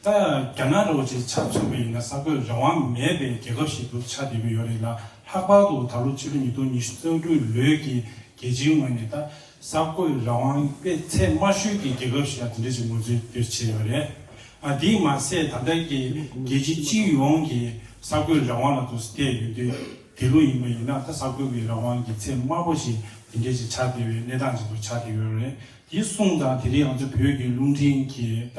ད་རྒྱ་ནག་རོགས་ཀྱི་ཆབ་མཚོན་པ་ཡིན་ན་ས་བགོས་རང་དབང་མེད་པའི་རྒྱལ་ཁབ་ཞིག་ཏུ་ཆགས་བསྡད་ཀྱི་ཡོད་རེད་ལ་ལྷག་པར་དུ་ད་ལོ་ཕྱི་ལོ་ཉིས་སྟོང་ཉི་ཤུ་རྩ་དྲུག་ལོའི་གི་རྒྱལ་སྤྱིའི་ངོས་ནས་ད་ས་བགོས་རང་དབང་སྤེལ་ཚད་དམའ་ཤོས་ཀྱི་རྒྱལ་ཁབ་ཞིག་ལ་དེ་འདྲ་ཞིག་ངོས་འཛིན་འདིར་བྱས་ཡོད་རེད། ཨ་དེས་མ་ཟད་ད་ལྟ་གི་རྒྱལ་སྤྱི་སྤྱི་ཡོངས་ཀྱི་ས་བགོས་རང་དབང་ལ་དུ་བལྟས་ཡོད་དུས་དེ་ལོ་ཡིན་པ་ཡིན་ན་ད་ས་བགོས་ཀྱི་རང་དབང་གི་ཚད་དམའ་པོ་ཞིག་དེ་འདྲ་ཞིག་ཆགས་བསྡད་པའི་གནས་སྟངས་ཅིག་ཏུ་ཆགས་བསྡད་ཡོད་རེད་དེ་གསུངས་དང་དེ་རིང་ང་ཚོ་བོད་ཀྱི་རླུང་འཕྲིན་གྱིས་ད།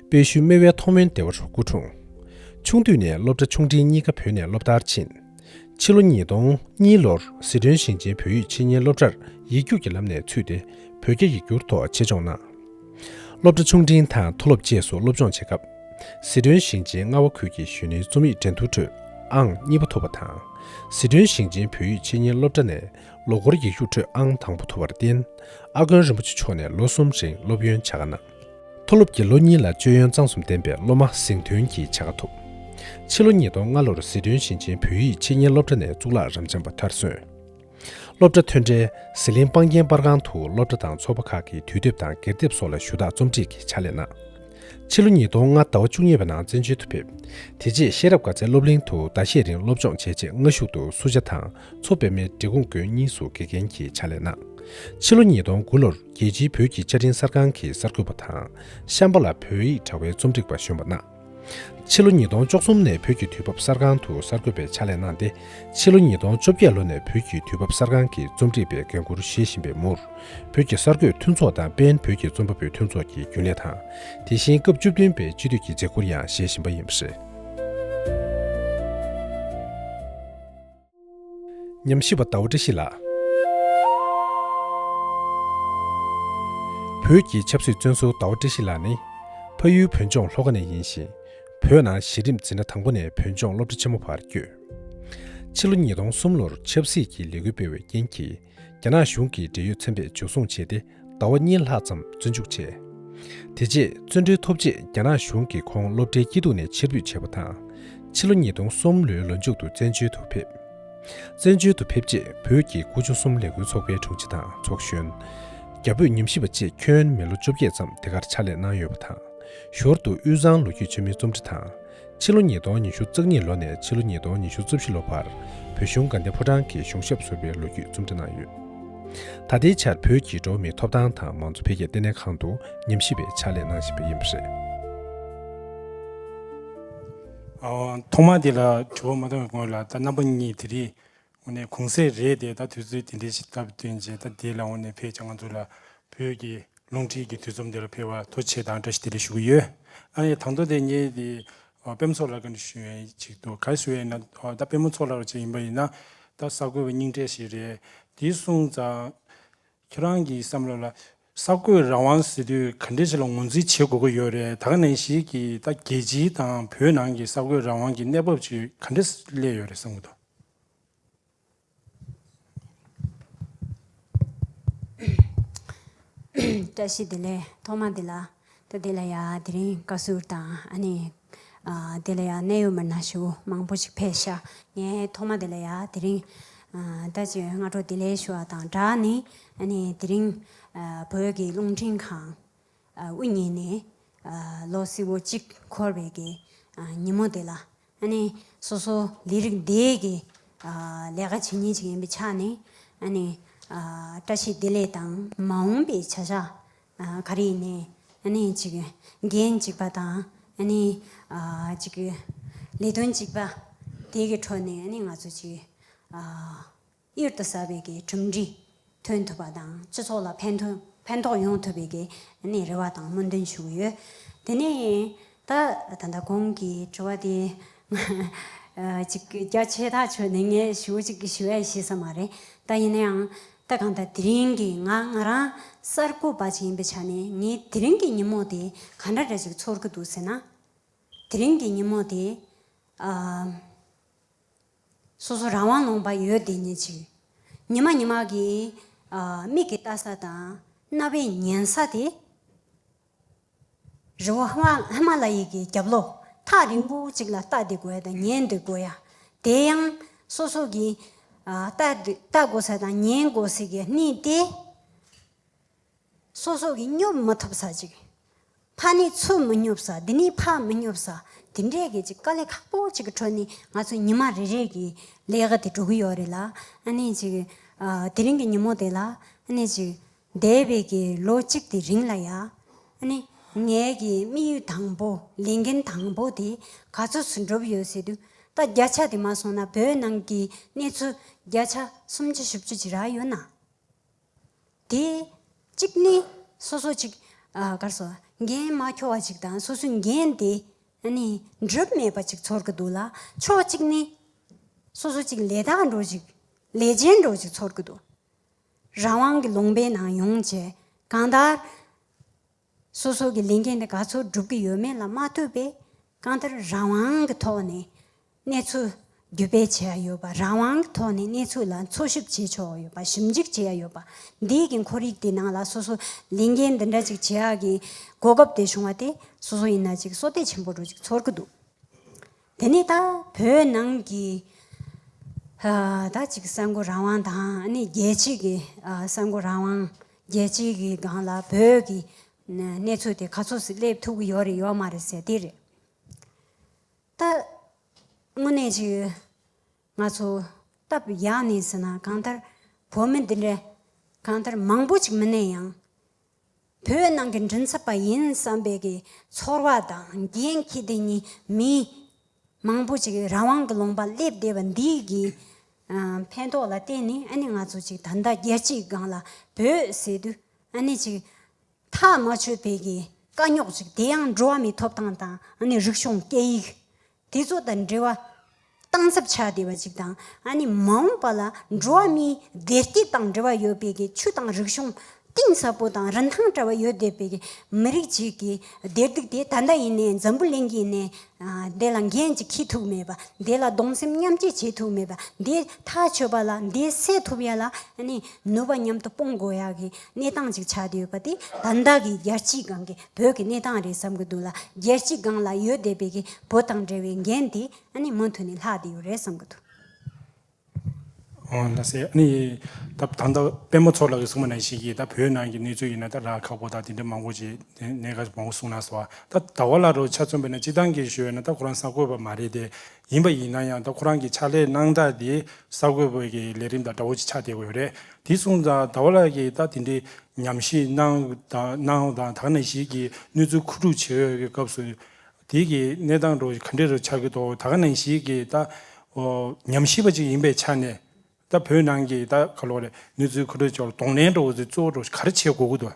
དཔལ་ཤུལ་རྨེ་བའི་མཐོང་སྨོན་སྡེ་བ་རུ་སྐུ་འཁྲུངས། ཆུང་དུས་ནས་སློབ་གྲྭ་ཆུང་འབྲིང་གཉིས་ཀ་བོད་ནས་སློབ་མཐར་ཕྱིན། ཕྱི་ལོ་ཉིས་སྟོང་གཉིས་ལོར་ཟི་ཁྲོན་ཞིང་ཆེན་བོད་ཡིག་ཆེད་གཉེར་སློབ་གྲྭར་ཡིག་རྒྱུགས་ཀྱི་ལམ་ནས་ཚུད་དེ་བོད་རྒྱ་ཡིག་སྒྱུར་ཐོག་ཆེད་སྦྱོང་གནང། སློབ་གྲྭ་ཆུང་འབྲིང་དང་མཐོ་སློབ་བཅས་སུ་སློབ་སྦྱོང་བྱེད་སྐབས། ཟི་ཁྲོན་ཞིང་ཆེན་རྔ་བ་ཁུལ་གྱི་གཞོན་ནུའི་རྩོམ་ཡིག་འགྲན་བསྡུར་ཁྲོད་ཨང་གཉིས་པ་ཐོབ་པ་དང། ཟི་ཁྲོན་ཞིང་ཆེན་བོད་ཡིག་ཆེད་གཉེར་སློབ་གྲྭ་ནས་ལོ་འཁོར་ཡིག་རྒྱུགས་ཁྲོད་ཨང་དང་པོ་ཐོབ་པར་བརྟེན། ཨ་དཀོན་རིན་པོ་ཆེ་མཆོག་ནས་ལོ་གསུམ་རིང་སློབ་ཡོན་བྱ་དགའ་གནང། མཐོ་སློབ་ཀྱི་ལོ་གཉིས་ལ་སྤྱོད་ཡོན་གཙང་གསུམ་ལྡན་པའི་སློབ་མ་གཟེངས་ཐོན་གྱི་བྱ་དགའ་ཐོབ། ཕྱི་ལོ་ཉིས་སྟོང་ལྔ་ལོར་ཟི་ཁྲོན་ཞིང་ཆེན་བོད་ཡིག་འཆད་ཉན་སློབ་གྲྭ་ནས་གཙུག་ལག་རབ་འབྱམས་པ་མཐར་སོན། སློབ་གྲྭ་ཐོན་འཕྲལ་ཟི་ལིང་སྤང་རྒྱན་པར་ཁང་དུ་སློབ་གྲྭ་དང་ཚོགས་པ་ཁག་གི་དུས་དེབ་དང་སྒེར་དེབ་སོགས་ལ་ཞུ་དག་རྩོམ་སྒྲིག་གི་ཕྱག་ལས་གནང། ཕྱི་ལོ་ཉིས་སྟོང་ལྔ་ཟླ་བ་བཅུ་གཉིས་པ་ནང་བཙན་བྱོལ་དུ་ཕེབས། དེ་རྗེས་ཤེས་རབ་དགའ་ཚལ་སློབ་གླིང་དུ་ཟླ་ཤས་རིང་སློབ་སྦྱོང་བྱས་རྗེས་སྔ་གཞུག་ཏུ་སུ་ཇཱ་དང་མཚོ་པདྨའི་འབྲི་གུང་དགོན་གཉིས་སུ་དགེ་རྒན་གྱི་ཕྱག་ལས་གནང། ཕྱི་ལོ་ཉིས་སྟོང་དགུ་ལོར། རྒྱལ་སྤྱིའི་བོད་ཀྱི་བཅའ་ཁྲིམས་གསར་ཁང་གི་གསར་འགོད་པ་དང་གཤམ་པ་ལ་བོད་ཡིག་དྲ་བའི་རྩོམ་སྒྲིག་པ་གཞོན་པ་གནའ། ཕྱི་ལོ་ཉིས་སྟོང་བཅུ་གསུམ་ནས་བོད་ཀྱི་དུས་བབ་གསར་ཁང་དུ་གསར་འགོད་པའི་ཕྱག་ལས་གནང་སྟེ་ཕྱི་ལོ་ཉིས་སྟོང་བཅོ་བརྒྱད་ལོ་ནས་བོད་ཀྱི་དུས་བབ་གསར་ཁང་གི་རྩོམ་སྒྲིག་པའི་འགན་འཁུར་བཞེས་བཞིན་པའི་མུར་བོད་ཀྱི་གསར་འགོད་མཐུན་ཚོགས་དང་པེན་བོད་ཀྱི་རྩོམ་པ་པོའི་མཐུན་ཚོགས་ཀྱི་རྒྱུན་ལས་དང་དེ་བཞིན་སྐབས་བཅུ་བདུན་པའི་སྤྱི་འཐུས་ཀྱི་མཛད་ཁུར་ཡང་བཞེས་བཞིན་པ་ཡིན་པ་རེད། ཉམས་ཞིབ་པ་ཟླ་བ་བཀྲ་ཤིས་ལགས། བོད་ཀྱི་ཆབ་སྲིད་བཙོན་ཟུར་ཟླ་བ་བཀྲ་ཤིས་ལགས་ནི། ཕ་ཡུལ་བོད་ལྗོངས་ལྷོ་ཁ་ནས་ཡིན་ཞིང། བོད་ནང་གཞི་རིམ་འཛིན་གྲྭ་དང་པོ་ནས་བོད་ལྗོངས་སློབ་གྲྭ་ཆེན་མོ་བར་བསྐྱོད། ཕྱི་ལོ་ཉིས་སྟོང་གསུམ་ལོར་ཆབ་སྲིད་ཀྱི་ལས་འགུལ་སྤེལ་བའི་རྐྱེན་གྱིས་རྒྱ་ནག་གཞུང་གིས་འབྲེལ་ཡོད་ཚན་པས་འཇུ་བཟུང་བྱས་ཏེ་ཟླ་བ་གཉིས་ལྷག་ཙམ་བཙོན་འཇུག་བྱས། དེ་རྗེས་བཙོན་གྲོལ་ཐོབ་རྗེས་རྒྱ་ནག་གཞུང་གིས་ཁོང་སློབ་གྲྭའི་སྐྱིད་སྡུག་ནས་ཕྱིར་འབུད་བྱས་པ་དང། ཕྱི་ལོ་ཉིས་སྟོང་གསུམ་ལོའི་ལོ་མཇུག་ཏུ་བཙན་བྱོལ་དུ་ཕེབས། བཙན་བྱོལ་དུ་ཕེབས་རྗེས་བོད་ཀྱི་སྐུ་ཆུང་གསུམ་ལས་འགུལ་ཚོགས་པའི་དྲུང་ཆེ་དང་ཚོགས་གཞོན། རྒྱ་བོད་ཉམས་ཞིབ་པ་བཅས་ཁྱོན་མི་ལོ་བཅོ་བརྒྱད་ཙམ་དེ་གར་ཕྱག་ལས་གནང་ཡོད་པ་དང། ཞོར་དུ་དབུས་གཙང་ལོ་རྒྱུས་ཆེན་མོའི་རྩོམ་འབྲི་དང། ཕྱི་ལོ་ཉིས་སྟོང་ཉི་ཤུ་རྩ་གཉིས་ལོ་ནས་ཕྱི་ལོ་ཉིས་སྟོང་ཉི་ཤུ་རྩ་བཞི་ལོ་བར་བོད་གཞུང་དགའ་ལྡན་ཕོ་བྲང་གི་གཞུང་ཞབས་ཟུར་པའི་ལོ་རྒྱུས་རྩོམ་འབྲི་གནང་ཡོད། ད་ལྟའི་ཆར་བོད་ཀྱི་འགྲོ་བ་མིའི་ཐོབ་ཐང་དང་མང་གཙོ་འཕེལ་རྒྱས་ལྟེ་གནས་ཁང་དུ་ཉམས་ཞིབ་པའི་ཕྱག་ལས་གནང་བཞིན་པ་ཡིན་པ་རེད། ཐོག་མར་དེ་ལ་དྲི་བ་མ་གཏོང་བའི་སྔོན་ལ་ད་རྣམ་པ་གཉིས་དེ་རིགས་འོ་ནས་གུང་ཟས་རེད་དེ་ད་དུས་ཚོད་དེ་འདྲའི་ཞིག་བཏབ་དོན་ཅི་ད་དེ་ལ་འོ་ནས་ཕེད་ཅག་ང་ཚོ་ལ་བོད་ཀྱི་རླུང་འཕྲིན་གྱི་དུས་རྩོམ་དེ་ལ་ཕེད་བ་ཐོ་ཆེ་དང་བཀྲ་ཤིས་བདེ་ལེགས་ཞུ་གི་ཡོད་ཨ་ཡེ་དང་ཐོ་དེ་ངས་དེ་དཔེ་མོ་ཚོགས་ལགས་ག་འདྲ་ཞུ་ཡོན་ཅིག་འདུག་ག་ཞུ་ཡོན་ན་ད་དཔེ་མོ་ཚོགས་ལགས་རོ་ཅིག་ཡིན་པ་ཡིན་ན་ད་ས་གོས་པ་སྙིང་གྲས་ཞིག་རེད་དེ་གསུངས་ཙང། ཁྱེད་རང་གི་བསམ་བློ་ལ། ས་བགོས་རང་དབང་ཟེར་དུས་ག་འདྲའི་ཆེ་ལ་ངོས་འཛིན་བྱེད་དགོས་ཀྱི་ཡོད་རེད་ད་ག་ནས་ཞིག་གིས་ད་རྒྱལ་སྤྱིའི་དང་བོད་ནང་གི་ས་བགོས་རང་དབང་གི་གནས་བབ་ཅིག་ག་འདྲས་སླེབས་ཡོད་རེད་བསམ་གི་འདུག། བཀྲ་ཤིས་བདེ་ལེགས་ཐོག་མ་འདི་ལ། ད་དེ་ལ་ཡང་དེ་རིང་བཀའ་ཟུར་དང་ཨ་ནེ། དེ་ལ་ཡང་གནད་ཡོད་མི་སྣ་ཞུ་མང་པོ་ཞིག་ཕེབས་ཤག་ངས་ཐོག་མ་དེ་ལ་ཡང་དེ་རིང། ད་ཅི་སྔ་དྲོ་དེ་ལས་ཞུ་བ་དང་སྦྲགས་ནས་ཨ་ནེ་དེ་རིང། བོད་ཀྱི་རླུང་འཕྲིན་ཁང་དབུ་བརྙེས་ནས་ལོ་སི་བོ་གཅིག་འཁོར་བའི་གི་ཉིན་མོ་དེ་ལ་ཨ་ནི། སོ་སོ་ལས་རིགས་འདས་ཀྱི། ལས་ཀ་བྱེད་ཉེན་ཞིག་ཡིན་པའི་ཆ་ནས། ཨ་ནི། བཀྲ་ཤིས་བདེ་ལེགས་དང། མ་འོངས་པའི་བྱ་བཞག་ག་རེ་ཡིན། ཨ་ནི། འགན་གཅིག་པ་དང། ཨ་ནི། ལས་དོན་གཅིག་པ། དེ་གི་འཕྲོ་ནས་ཨ་ནི་ང་ཚོ་ཅིག། གཡུར་དུ་ཟ་བའི་གེའི་གྲུབ་འབྲས་ཐོན་ཐུབ་པ་དང་སྤྱི་ཚོགས་ལ་ཕན་ཐོགས་ཕན་ཐོགས་ཡོང་ཐུབ་པའི་གེའི་རེ་བ་དང་སྨོན་འདུན་ཞུ་གི་ཡོད། དེ་ནས་ད་ད་ལྟ་གོང་གི་དྲི་བ་དེ་ཅིག་རྒྱ་ཆེ་ཐག་ཆོད་ནས་ངས་ཞུ་ཅིག་ཞུ་ཡ་ཤེས་ས་མ་རེད་ད་ཡིན་ན་ཡང་ད་གང་ལྟར་དེ་རིང་གི་ང་ང་རང་གསར་འགོད་པ་ཅིག་ཡིན་པའི་ཆ་ནས་ངའི་དེ་རིང་གི་ཉིན་མོ་དེ་ག་འདྲ་འདྲ་ཅིག་ཚོར་གི་འདུག་ཟེར་ན། དེ་རིང་གི་ཉིན་མོ་དེ། སོ་སོ་རང་དབང་ལོངས་པ་ཡོད་དེ་ཉིད་ཅིག། ཉི་མ་ཉི་མ་གི། མིག་གི་བལྟ་ས་དང། རྣ་བའི་ཉན་ས་དེ། རི་བོ་ཧི་མ་ལ་ཡི་གི་རྒྱབ་ལོགས་ཐག་རིང་པོ་ཅིག་ལ་བལྟ་དེ་དགོས་དང་ཉན་དེ་དགོས་ཡ། དེ་ཡང། སོ་སོ་གི། བལྟ་དགོས་ས་དང་ཉན་དགོས་ས་གི་གནས་དེ། སོ་སོ་གིས་སྙོབ་མ་ཐུབ་ས་ཅིག། ཕ་ནི་ཚུར་མི་སྙོབ་ས་འདི་ནི་ཕ་མི་སྙོབ་ས་དེ་འདྲའི་གི་ཅིག་དཀའ་ལས་ཁག་པོ་ཅིག་གི་ཁྲོད་ནས་ང་ཚོས་ཉི་མ་རེ་རེ་གི་ལས་ཀ་དེ་འགྲོ་གི་ཡོད་རེད་ལ་ཨ་ནེ་ཅིག་དེ་རིང་གི་ཉིན་མོ་དེ་ལ་ཨ་ནེ་ཅིག་འདས་པའི་གི་ལོ་གཅིག་དེ་རིང་ལ་ཡ་ཨ་ནེ་ངའི་གི་དམིགས་ཡུལ་དང་པོ་ལས་འགན་དང་པོ་དེ་ག་ཚོད་སུ་འགྲུབ་ཡོད་ཟེར་དུས་ད་བརྒྱ་ཆ་དེ་མ་སོང་ན་བོད་ནང་གི་གནས་ཚུལ་བརྒྱ་ཆ་སུམ་ཅུ་བཞི་བཅུ་ཅིག་རག་ཡོད་ན། དེ། གཅིག་ནི། སོ་སོ་གཅིག། གར་སོ། འགན་མ་འཁྱོལ་བ་གཅིག་དང་སོ་སོའི་འགན་དེ། ནི། འགྲུབ་མེད་པ་གཅིག་ཚོར་གྱི་འདུག་ལ། ཕྱོགས་གཅིག་ནི། སོ་སོ་གཅིག་ལས་དག་འགྲོ་གཅིག། ལས་ཅན་འགྲོ་གཅིག་ཚོར་གྱི་འདུག། རང་དབང་གི་ལུང་པའི་ནང་ཡོང་བྱས། གང་ལྟར། སོ་སོ་གི་ལས་འགན་དེ་ག་ཚོད་སྒྲུབ་ཀྱི་ཡོད་མེད་ལ་མ་ལྟོས་པས་གང་ལྟར་རང་དབང་གི་ཐོག་ནས་གནས་ཚུལ་བརྒྱུད་སྤེལ་བྱས་ཡ་ཡོད་པ་རང་དབང་གི་ཐོག་ནས་གནས་ཚུལ་ལ་འཚོལ་ཞིབ་བྱས་ཆོག་ཡོད་པ་ཞིབ་འཇུག་བྱས་ཡ་ཡོད་པ་འདིའི་གི་འཁོར་ཡིག་དེ་ནང་ལ་སོ་སོ་ལས་འགན་འདི་འདྲ་ཅིག་བྱས་ཡ་གི་གོ་སྐབས་དེ་བྱུང་བ་དེ་སོ་སོ་ཡིན་ན་ཅིག་སོ་ལྟས་ཆེན་པོ་རུ་ཅིག་ཚོར་གི་འདུག། དེ་ནས་ད་བོད་ནང་གི་ད་ཅིག་གསར་འགོད་རང་དབང་དང་ནི་རྒྱལ་སྤྱི་གི་གསར་འགོད་རང་དབང་རྒྱལ་སྤྱི་གི་སྒང་ལ་བོད་ཀྱི་གནས་ཚུལ་དེ་ག་ཚོད་སི་སླེབས་ཐུབ་ཀི་ཡོད་རེད་ཡོད་མ་རེད་ཟེར་དེ་རེད། ད་དངོས་གནས་ཅིག་ང་ཚོ་སྟབས་ཡག་ནས་ཟེར་ན་གང་ལྟར་བོད་མི་འདི་འདྲ་གང་ལྟར་མང་པོ་ཅིག་མི་གནས་ཡང། བོད་ནང་གི་མགྲིན་ཚབ་པ་ཡིན་བསམ་པའི་གི་ཚོར་བ་དང་རྒྱན་གྱིས་དེ་གཉིས་མི་མང་པོ་ཅིག་རང་དབང་གི་ལོང་པ་སླེབས་བསྡད་པ་འདི་གི་ཕན་ཐོག་ལ་བརྟེན་ནས་ཨ་ནི་ང་ཚོ་ཅིག་ད་ལྟ་རྒྱལ་སྤྱིའི་སྒང་ལ་བོད་ཟེར་དུས་ཨ་ནི་ཅིག་ཐག་མ་ཆོད་པའི་གི་དཀའ་རྙོག་ཅིག་དེ་ཡང་འགྲོ་བ་མིའི་ཐོབ་ཐང་དང་ཨ་ནི་རིག་གཞུང་སྐད་ཡིག་དེ་ཚོ་དང་འབྲེལ་བ་སྟངས་འཚབ་ཆགས་བསྡད་པ་ཅིག་དང་ཨ་ནི་མ་འོངས་པ་ལ་འགྲོ་བ་མིའི་བདེ་སྐྱིད་དང་འབྲེལ་བ་ཡོད་པའི་གི་ཆུ་དང་རིག་གཞུང་གཏིང་ཟབ་པོ་དང་རིན་ཐང་བྲལ་བ་ཡོད་བསྡད་པའི་གི་མི་རིགས་ཅིག་གི་བདེ་སྡུག་དེ་ད་ལྟ་ཡིན་ནའི་འཛམ་བུ་གླིང་གི་ནས་དེ་ལ་འགན་ཅིག་འཁྱི་ཐུག་མེད་པ་དེ་ལ་གདོང་སེམས་མཉམ་བསྐྱེད་བྱེད་ཐུག་མེད་པ་དེ་ཐག་ཆོད་པ་ལ་དེ་སེལ་ཐུབ་ཡ་ལ་ཨ་ནི་ནུས་པ་མཉམ་དུ་སྤུངས་དགོས་ཡ་གི་གནས་སྟངས་ཅིག་ཆགས་བསྡད་ཡོད་པ་དེ་དང་བདག་གི་རྒྱལ་སྤྱིའི་སྒང་གི་བོད་ཀྱི་གནས་སྟངས་རེད་བསམ་གི་འདུག་ལ་རྒྱལ་སྤྱིའི་སྒང་ལ་ཡོད་བསྡད་པའི་གི་བོད་དང་འབྲེལ་བའི་འགན་དེ་ནི་མུ་མཐུད་ནས་ལྷག་བསྡད་ཡོད་རེད་བསམ་གི་འདུག། ཨོ་ན་སི་ཨ་ནི་ད་ད་ལྟ་དཔལ་མོ་ཚོགས་ལགས་ཀྱི་སྲུང་མ་ནང་ཞིག་གིས་ད་བོད་ནང་གི་གནས་ཚུལ་ཡིན་ན་ད་ར་ཁག་པོ་དང་དེ་འདྲ་མང་པོ་ཅིག་དེ་གནས་ཁ་མང་པོ་གསུངས་ནང་སོ། ད་ད་བ་ལ་རོ་ཆ་ཚོན་པོ་ནས་སྤྱི་བཏང་གི་ཞོལ་ན་ད་ཁོ་རང་ས་བཀོད་པ་མ་རེད་དེ། ཡིན་པ་ཡིན་ན་ཡང་ད་ཁོ་རང་གི་ཕྱག་ལས་གནང་སྟངས་དེ་གསར་འགོད་པོའི་གི་ལས་རིམ་དང་འདྲ་བོ་ཅིག་ཆགས་བསྡད་དགོས་རེད་དེ་གསུངས་ཙང་ད་བར་ལ་གི་ད་དེ་འདྲའི་ཉམས་ཞིག་གནང་གནང་དང་དག་ནས་ཞིག་གི་གནོད་འཚེ་ཁུ་དཀྲུག་བྱེད་འོས་གི་སྐབས་སུ་དེ་གི་གནས་སྟངས་རོ་ག་འདྲས་རོ་ཆགས་གི་འདུག་དག་ནས་ཞིག་གི་ད་ཉམས་ཞིབ་པ་ཅིག་ཡིན་པའི་ཆ་ནས་ད་བོད་ནང་གི་ད་ག་ལོག་རེད་གནོད་འཚེ་ཁུ་དཀྲུག་ཆོག་གདོང་ལེན་འགྲོ་བ་ཚོའི་གཙོ་བོ་རོ་གར་བྱེད་དགོས་གི་འདུག་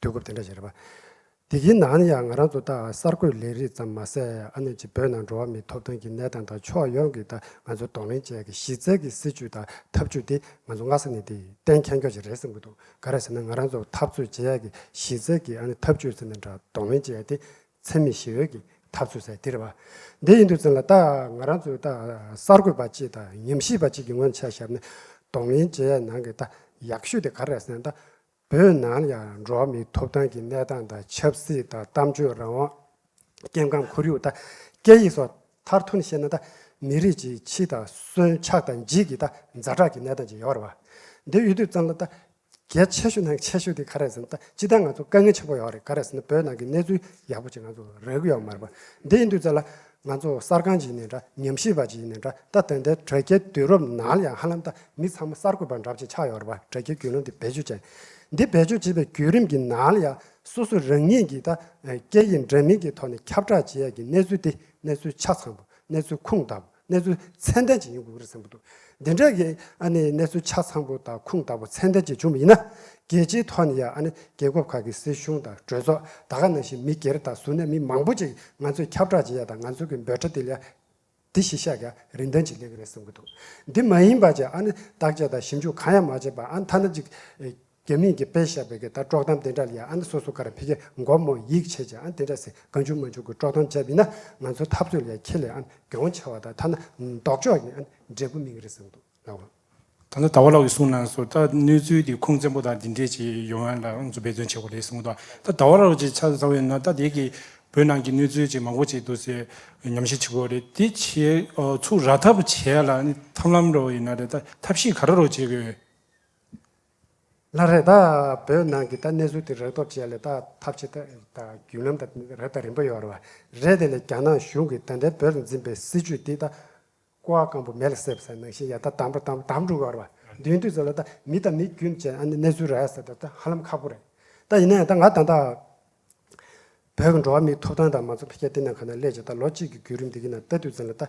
དུས་སྐབས་དེ་འདྲ་ཞིག་རེད་པ། དེ་གིས་ནའང་ཡང་ང་རང་ཚོ་ད་གསར་འགོད་ལས་རིགས་ཙམ་མ་ཟད་ཨ་ནེ་ཆི་བོད་ནང་འགྲོ་བ་མིའི་ཐོབ་ཐང་གི་གནས་སྟངས་དང་ཕྱོགས་ཡོངས་ཀྱི་དང་ང་ཚོའི་གདོང་ལེན་བཅས་ཀྱི་གཞི་རྩའི་གི་སྲིད་བྱུས་དང་ཐབས་བྱུས་དེ་ང་ཚོ་སྔ་ས་ནས་དེ་གཏན་མཁྱེན་མགྱོགས་ཞིག་རེད་བསམ་གྱི་འདུག་ག་རེ་ཟེར་ན་ང་རང་ཚོ་འཐབ་རྩོད་བྱེད་ཡས་ཀྱི་གཞི་རྩའི་གི་ཨ་ནེ་ཐབས་བྱུས་ཟེར་ནས་འདྲ་གདོང་ལེན་བྱེད་ཡས་དེ་འཚེ་མེད་ཞི་བའི་གི་འཐབ་རྩོད་ཟེར་དེ་རེད་པ། དེ་ཡིན་དུས་ཙམ་ལ་ད་ང་རང་ཚོའི་ད་གསར་འགོད་པ་གཅིག་དང་ཉམས་ཞིབ་པ་གཅིག་གི་སྔོན་ཆད་ཞབས་ནས་གདོང་ལེན་བྱེད་ཡས་ནང་གི་ད་ཡག་ཤོས་དེ་ག་རེ་རེད་ཟེར་ན་ད་བོད་ནང་ཡང་འགྲོ་མིའི་ཐོབ་ཐང་གི་གནས་སྟངས་དང་ཆབ་སྲིད་དང་གཏམ་བརྗོད་རང་དབང། སྐྱེ་ཁམས་ཁོར་ཡུག་དང་སྐད་ཡིག་སོགས་མཐར་ཐུག་ནས་བཤད་ན་དང་མི་རིགས་ཀྱི་ཕྱི་དང་གསོན་ཆགས་དང་འཇིག་གི་དང་མཛའ་གྲགས་ཀྱི་གནས་སྟངས་ཅིག་ཡོད་རེད་བ། འདི་ཡོད་དུས་ཙམ་ལ་དང་གལ་ཆེ་ཤོས་ནང་གི་ཆེ་ཤོས་དེ་ག་རེད་ཟེར་ན་དང་ཅི་སྟེ་ང་ཚོ་དཀའ་ངལ་ཆེན་པོ་ཡོད་རེད་ག་རེད་ཟེར་ན་བོད་ནང་གི་གནས་ཚུལ་ཡག་པོ་ཅིག་ང་ཚོ་རག་གི་ཡོད་མ་རེད་བ། འདི་ཡིན་དུས་ཙམ་ལ་ང་ཚོ་གསར་ཁང་ཞིག་ནས་འདྲ་ཉམས་ཞིབ་པ་ཞིག་ནས་འདྲ་ལྟ་དོན་དེ་དྲ་རྒྱའི་དུས་རབས་ནང་ལ་ཡང་ཧ་ལམ་ལྟ་མི་ཚང་མ་གསར་འགོད་པ་འདྲ་བཞིན་ཆགས་ཡོད་རེད་པ་དྲ་རྒྱའི་རྒྱུས་ལོན་དེ་བེད་སྤྱོད་བྱས། འདི་བེད་སྤྱོད་བྱེད་པའི་བརྒྱུད་རིམ་གྱི་ནང་ལ་ཡང་སོ་སོས་རང་ཉིད་ཀྱི་ད་སྐད་ཡིག་འདྲ་མིན་གྱི་ཐོག་ནས་ཁྱབ་བསྒྲགས་བྱེད་ཡ་གི་གནས་ཚུལ་དེ་གནས་ཚུལ་ཆ་ཚང་དང་གནས་ཚུལ་ཁུངས་དག་པ་གནས་ཚུལ་ཚད་ལྡན་ཞིག་ཡིན་དགོས་རེད་བསམ་གྱི་འདུག་འདི་འདྲ་གི་གནས་ཚུལ་ཆ་ཚང་པོ་དང་ཁུངས་དག་པོ་མཚན་ལྡན་གྱིས་བྱུང་བ་ཡིན་ན། རྒྱལ་སྤྱིའི་ཐོག་ནས་ཡང་རྒྱལ་ཁབ་ཁག་གི་སྲིད་གཞུང་དང་གྲོས་ཚོགས་ད་ག་ནང་བཞིན་མི་སྒེར་དང་གཟུར་གནས་མི་མང་པོ་ཅིག་ང་ཚོས་ཁྱབ་བསྒྲགས་བྱེད་ཡ་དང་ང་ཚོ་གི་འབོད་སྒྲ་དེ་ལས་དེ་གཞི་བཞག་གི་རིན་ཐང་ཅིག་སླེབས་གི་རེད་བསམ་གྱི་འདུག་འདི་མ་ཡིན་པ་ཅིག་བརྟག་དཔྱད་དང་ཞིབ་འཇུག་གང་ཡང་མ་བྱས་པ་ཨ་མཐའ་ན་ཅིག་རྒྱ་མིས་ཀྱི་པེ་ཤ་བེ་གི་ད་ཀྲོག་གཏམ་དེ་འདྲ་ལ་ཡང་ཨ་མདོ་སོ་སོ་ཀར་ཕི་གས་མགོ་རྨོ་ཡིག་ཆེ་ཆེ་ཨ་དེ་འདྲ་ཟེར་ག་འཇུག་མ་འཇུག་གི་ཀྲོག་གཏམ་བྱས་བི་ན་ང་ཚོ་འཐབ་རྩོད་ལ་ཡང་ཁྱེད་ལས་ཨ་དགེ་བོ་ཆེ་བ་དག་ཐ་ན་ལྡོག་ཕྱོགས་ཀྱི་ཨ་འབྲས་བུ་མིང་རེ་ཟིང་འདུག་ལགས་བ། ད་ལྟ་ད་བ་ལགས་ཀྱི་གསུང་ནང་སོ་ད་གནས་ཚུལ་དེ་ཁུངས་བཙན་པོ་དང་དེ་འདྲས་ཀྱི་ཡོ་ཧན་ལ་ཨང་ཚོ་འབད་བརྩོན་བྱས་བ་རེད་གསུང་དོ་ད་ད་བ་ལགས་ཀྱི་ཆ་ཚང་བས་ན་ད་དེ་གི་བོད་ནང་གི་གནས་ཚུལ་ཅིག་མང་པོ་ཅིག་འདུག་སེ་ཉམས་ཞིབ་བྱེད་དགོས་རེད་དེ་ཆེ་ཚུགས་ར་ཐབས་བྱས་ལ་ཨ་ཐམ་ལམ་རོ་ཡིན་ན་རེད་ད་ཐབས་ཤེས་ག་ར་རོ་བྱེད་དགོས། ལ་རེ་ད་བོད་ནང་གི་ད་གནས་ཚུལ་དེ་རག་ཐོབ་བྱས་ལ་ད་ཐབས་ཆེ་ད་རྒྱུན་ལམ་ད་རེ་ད་རིན་པོ་ཡོད་ར་རེད་དེ་ལས་རྒྱ་ནག་གཞུང་གི་ད་འདྲའི་བོད་ལ་འཛིན་པའི་སྲིད་ཇུས་དེ་ད་ཀོ་བ་སྐམ་པོ་མེ་ལ་སྲེབ་ས་ནང་བཞིན་ཡ་ད་དམ་པོ་དམ་དམ་འགྲོ་གི་ཡོད་ར་མདུན་དུས་ཚོད་ལ་ད་མི་ད་མི་རྒྱུན་བཅས་ཨ་ནི་གནས་ཚུལ་རག་ས་ད་ད་ཧ་ལམ་ཁག་པོ་རེད་ད་ཡིན་ན་ཡང་ད་ང་དང་ད་བོད་ཀྱི་འགྲོ་བ་མིའི་ཐོབ་ཐང་དང་མང་གཙོ་འཕེལ་རྒྱས་དེ་ནང་ག་ན་སླེབས་ཀྱི་ད་ལོ་གཅིག་གི་རྒྱུད་རིམ་འདི་གི་ནང་ད་དུས་ཚོད་ལ་ད།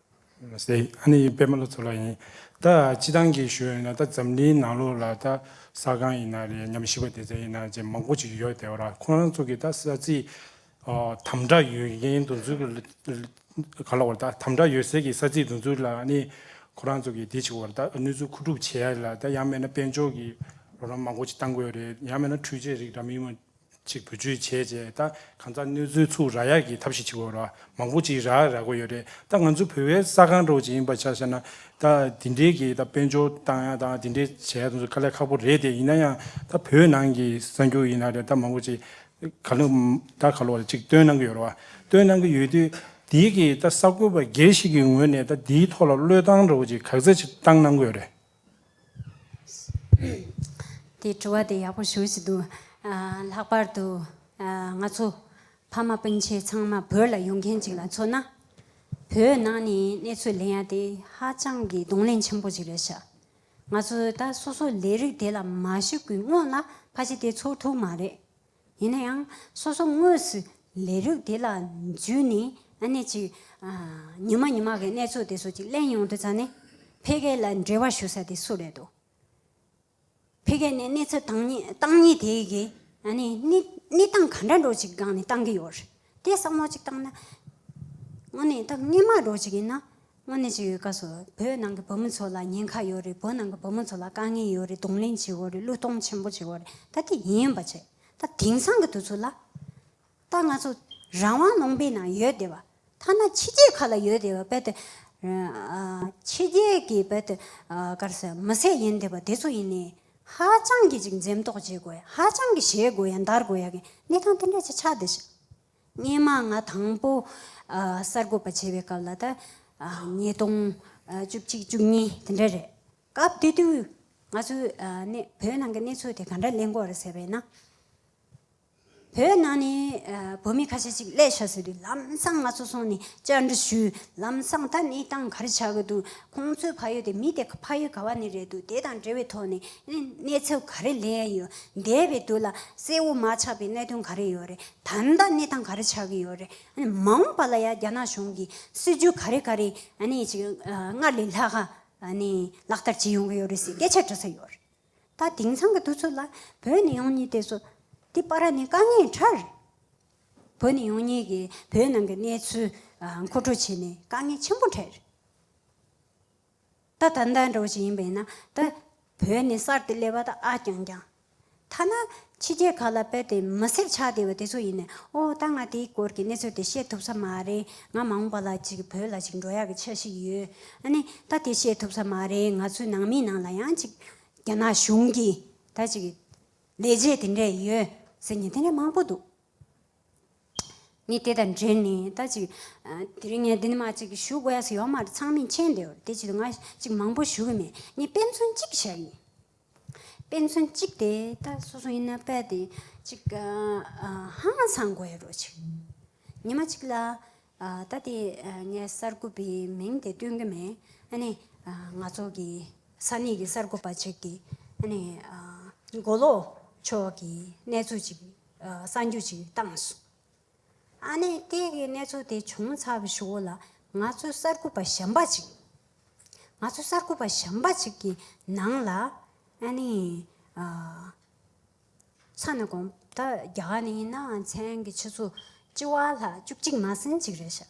མ་ཟད་ཨ་ནེ་ཡི་པདྨ་ལོ་ཚོ་ལ་ཡིན། ད་སྤྱི་བཏང་གི་ཞོལ་ཡིན་ན་ད་འཛམ་གླིང་ནང་ལོགས་ལ་ད་ས་གང་ཡིན་ན་རེད་ཉམས་ཞིབ་པ་སྡེ་ཚན་ཡིན་ན་ཅེས་མང་པོ་ཅིག་ཡོད་དེ་བ་ར་ཁོང་རང་ཚོ་གི་ད་ས་ཚིག་དམ་དྲག་ཡོད་མཁན་འདུག་འཛུགས་ག་ལ་བ་ར་ད་དམ་དྲག་ཡོད་ཟེར་གི་ས་ཚིག་འདུག་འཛུགས་ལ་ཨ་ནེ་ཁོ་རང་ཚོ་གི་དེ་ཅིག་བ་ར་ད་གནོད་འཛུགས་ཁུ་དྲུག་བྱས་ལ་ད་ཡང་མེད་ན་དཔལ་འབྱོར་གི་རོགས་རམ་མང་པོ་ཅིག་བཏང་དགོས་རེད་ཡང་མེད་ན་འཕྲུལ་ཆས་རིགས་འདྲ་མིན་མ། ཅིག་བུ་བཅོལ་བྱས་རྗེས་ད་གང་ཙག་གནོད་འཚོལ་ཚུགས་རག་ཡག་གི་ཐབས་ཤིག་བྱེད་དགོས་རོགས་མང་པོ་ཅིག་རག་རག་གོ་ཡོད་རེད་ད་ང་ཚོ་བོད་བའི་ས་གང་རོགས་ཅིག་ཡིན་པ་ཆ་ཤ་ན་ད་དེ་འདྲེ་གི་ད་དཔལ་འབྱོར་བཏང་ཡག་དང་དེ་འདྲེ་བྱས་ཡག་དང་ཁ་ལས་ཁག་པོ་རེད་དེ་ཡིན་ན་ཡང་ད་བོད་ནང་གི་གསར་འགྱུར་ཡིན་ན་རེད་ད་མང་པོ་ཅིག་ག་ལུ་ད་ག་ལུ་བ་ཅིག་སྟོན་གནང་གི་ཡོད་རོགས་སྟོན་གནང་གི་ཡོད་དུས་དེའི་གི་ད་གསར་འགོད་པ་སྒེར་ཞིག་གི་ངོས་ནས་ད་དེའི་ཐོག་ལ་བློས་བཏང་རོགས་ཅིག་གག་ཚ་ཅིག་བཏང་གནང་གི་ཡོད་རེད། དེས་དྲི་བ་དེ་ཡག་པོ་ཞུ་བཞིན་འདུག་ལྷག་པར་དུ། ང་ཚོ་ཕ་མ་སྤུན་མཆེད་ཚང་མ་བོད་ལ་ཡོང་མཁན་ཅིག་ལ་མཚོན་ན། བོད་ནང་ནས་གནས་ཚུལ་ལེན་ཡ་དེ་ཧ་ཅང་གི་གདོང་ལེན་ཆེན་པོ་ཅིག་རེད་ཤག་ང་ཚོས་ད་སོ་སོ་ལས་རིགས་དེ་ལ་མ་ཞུ་གི་སྔོན་ལ་ཕ་གཞི་དེ་ཚོར་ཐུབ་མ་རེད། ཡིན་ན་ཡང་སོ་སོ་དངོས་སུ་ལས་རིགས་དེ་ལ་འཇུས་ནས་ཨ་ནེ་ཅིག་ཉི་མ་ཉི་མ་གི་གནས་ཚུལ་དེ་ཚོ་ཅིག་གླེང་ཡོང་དུ་ཙང་ནི་ཕལ་སྐད་ལ་འབྲེལ་བ་ཞུ་ས་དེ་སུ་རེད་དོ། ཕལ་སྐད་ནི་གནས་ཚུལ་དང་ནི་སྟངས་ཉིད་དེ་གི་ཨ་ནེ་གནས་སྟངས་ག་འདྲ་འགྲོ་ཅིག་སྒང་ནས་བཏང་གི་ཡོད་རེད། དེ་བསམ་བློ་གཅིག་བཏང་ན། དངོས་གནས་ད་སྔས་མ་འགྲོ་གཅིག་ཡིན་ན། དངོས་གནས་ཅིག་ཡོད་དཀའ་སོ། བོད་ནང་གི་བུ་མོ་ཚོ་ལ་ཉེན་ཁ་ཡོད་རེད་བོད་ནང་གི་བུ་མོ་ཚོ་ལ་དཀའ་ངལ་ཡོད་རེད་གདོང་ལེན་བྱེད་འོས་རེད་གླུ་གཏོང་ཆེན་པོ་བྱེད་འོས་རེད་ད་དེ་ཡིན་ཡིན་པ་བྱེད་ད་དེང་སང་གི་དུས་ཚོད་ལ། ད་ང་ཚོ་རང་དབང་ལུང་པའི་ནང་ཡོད་བསྡད་པ། ཐ་ན་ཕྱི་རྒྱལ་ཁ་ལ་ཡོད་བསྡད་པ་རྦད་དེ། ཕྱི་རྒྱལ་གྱི་རྦད་དེ། མི་སེར་ཡིན་བསྡད་པ་དེ་ཚོ་ཡིན་ནས། ཧ་ཅང་གི་ཅིག་འཛེམ་དོགས་བྱེད་དགོས་ཡ་ཧ་ཅང་གི་བྱེད་དགོས་ཡ་འདར་དགོས་ཡ་གི་གནས་སྟངས་དེ་འདྲ་ཅིག་ཆགས་བསྡད་ཤག། སྙེ་མ་ང་དང་པོ་གསར་འགོད་པ་བྱེད་པའི་སྐབས་ལ་ད་ཉིས་སྟོང་བཅུ་གཅིག་བཅུ་གཉིས་དེ་འདྲ་རེད། སྐབས་དེ་དུས་ང་ཚོའི་བོད་ནང་གི་གནས་ཚུལ་དེ་ག་འདྲ་གླེང་དགོས་རེད་ཟེར་བས་ན། བོད་ནང་ནས་བོད་མི་ཁ་ཤས་ཅིག་ཀླད་ཤ་ཟོས་ཏེ་ལམ་སང་ང་ཚོ་སོང་ནས་བཅར་འདྲི་ཞུས། ལམ་སང་ད་ནི་ཏང་ག་རེ་བྱ་གི་འདུག་ཁོང་ཚོའི་ཕ་ཡུལ་དེ་མི་དེ་ཕ་ཡུལ་ག་བ་ནས་རེད་འདུག་དེ་དང་འབྲེལ་བའི་ཐོག་ནས་གནས་ཚུལ་ག་རེ་ལས་ཡོད་འདས་པའི་དུས་ལ་གསལ་བོ་མ་ཆགས་པའི་གནད་དོན་ག་རེ་ཡོད་རེད་ད་ལྟ་གནས་སྟངས་ག་རེ་ཆགས་ཀྱི་ཡོད་རེད་མ་འོངས་པ་ལ་ཡང་རྒྱ་ནག་གཞུང་གི་སྲིད་ཇུས་ག་རེ་ག་རེ་ནས་ཅིག་སྔར་ལས་ལྷག་ནས་ལག་བསྟར་བྱེད་ཡོང་གི་ཡོད་རེད་ཟེར་སྐད་ཆ་འདྲི་ས་ཡོད་རེད། ད་དེང་སང་གི་དུས་ཚོད་ལ་བོད་ནས་ཡོང་ཉེ་དེ་ཚོ་དེ་པར་ནས་དཀའ་ངལ་འཕྲར། བོད་ནས་ཡོང་ཉེ་གི་བོད་ནང་གི་གནས་ཚུལ་མཁོ་སྤྲོད་བྱས་ནས་དཀའ་ངལ་ཆེན་པོ་འཕྲལ། ད་ད་ལྟ་འདྲ་བོ་ཞིག་ཡིན་པས་ན་ད་བོད་ནས་གསར་དུ་སླེབས་པ་ད་ཨ་ཀྱང་ཀྱང། ཐ་ན་ཕྱི་རྒྱལ་ཁག་ལ་དཔལ་དེ་མི་བསྲེག་ཆགས་བདེ་བ་དེ་ཚོ་ཡིན་ནས་ཨོ་ད་ང་དེའི་སྐོར་གྱི་གནས་ཚོད་དེ་བཤད་ཐུབ་ས་མ་རེད་ང་མ་འོངས་པ་ལ་ཅིག་བོད་ལ་ཅིག་འགྲོ་ཡག་གི་ཆ་ཞིག་ཡོད་ཨ་ནི་ད་དེ་བཤད་ཐུབ་ས་མ་རེད་ང་ཚོའི་ནང་མིའི་ནང་ལ་ཡང་ཅིག་རྒྱ་ནག་གཞུང་གིས་ད་ཅིག་ལས་བྱེད་དེ་འདྲས་ཡོད་ཟེར་མཁན་དེ་འདྲས་མང་པོ་འདུག་ངས་དེ་དང་འབྲེལ་ནས་ད་ཅིག་དེ་རིང་ངས་འདི་ནས་མ་ཅིག་ཞུ་དགོས་ཡག་ས་ཡོག་མ་རེད་ཚང་མས་མཁྱེན་བདེ་བ་རེད་དེ་ཅིག་ང་ཅིག་མང་པོ་ཞུ་གི་མེད་ངས་དཔེ་མཚོན་གཅིག་བྱ་གི་ཡིན། དཔེ་མཚོན་གཅིག་དེ་ད་སོ་སོ་ཡིན་ན་དཔེ་དེ་གཅིག་ཧང་ཧང་སངས་དགོས་རོ་གཅིག་ཉི་མ་གཅིག་ལ་ད་དེ་ངས་གསར་འགོད་པའི་མིང་དེ་སྟོན་གྱི་མེད་ཨ་ནི་ང་ཚོ་གི་ས་གནས་ཀྱི་གསར་འགོད་པ་གཅིག་གི་ཨ་ནི་མགོ་ལོག་ཕྱོགས་ཀྱི་གནས་ཚུལ་གཅིག་གསར་འགྱུར་གཅིག་བཏང་སོང། ཨ་ནེ་སྐད་ཀྱི་གནས་ཚུལ་དེ་བྱུང་ཚར་བའི་ཞོར་ལ་ང་ཚོའི་གསར་འགོད་པ་གཞན་པ་གཅིག་ང་ཚོའི་གསར་འགོད་པ་གཞན་པ་གཅིག་གི་ནང་ལ་ཨ་ནེ་ཡི་ཚ་ནས་གོང་ད་རྒྱ་གར་ནས་ཡིན་ནའང་མཚན་གྱི་ཆུ་ཚོད་ལྕི་བ་ལྷག་བཅུ་གཅིག་མ་ཟིན་གཅིག་རེད་བཞག་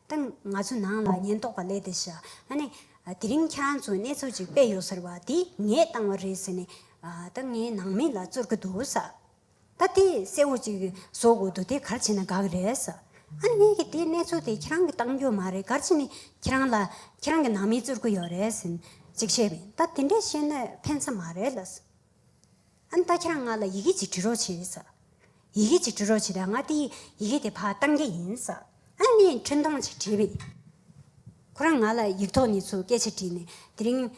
དང། ང་ཚོ་ནང་ལ་ཉེན་རྟོག་པ་ལས་དེ་བྱ་ཨ་ནི། དེ་རིང་ཁྱེད་རང་ཚོས་གནས་ཚུལ་ཅིག་སྤེལ་ཡོད་ཟེར་བ་དེ་ངས་བཏང་བ་རེད་ཟེར་ནས་ད་ངའི་ནང་མི་ལ་བཙུར་གི་འདུག་ཟ། ད་དེ་གསལ་བོ་ཅིག་བཟོ་དགོས་འདུག་དེ་གར་བྱས་ན་དགའ་གི་རེད་ཟ། ཨ་ནི་ངས་ཀྱི་དེ་གནས་ཚུལ་དེ་ཁྱེད་རང་གིས་བཏང་རྒྱུ་མ་རེད་གར་བྱས་ནས་ཁྱེད་རང་ལ་ཁྱེད་རང་གི་ནང་མི་བཙུར་གི་ཡོད་རེད་ཟེར་ནས་ཅིག་བཤད་པས་ད་དེ་འདྲས་བཤད་ན་ཕན་ས་མ་རེད་ལ་ཟེར། ཨན་ད་ཁྱེད་རང་ང་ལ་ཡི་གེ་གཅིག་འབྲི་རོགས་བྱོས། ཡི་གེ་གཅིག་འབྲི་རོགས་བྱས་པས་ང་དེ་ཡི་གེ་དེ་ཕ་གཏང་རྒྱ་ཡིན། ཨན་ངས་འཕྲིན་ཐུང་གཅིག་བྲིས་པས། ཁོ་རང་ང་ལ་ཡིག་ཐོག་ནས་ཚུར་སྐད་ཆ་དྲིས་ནས་དེ་རིང།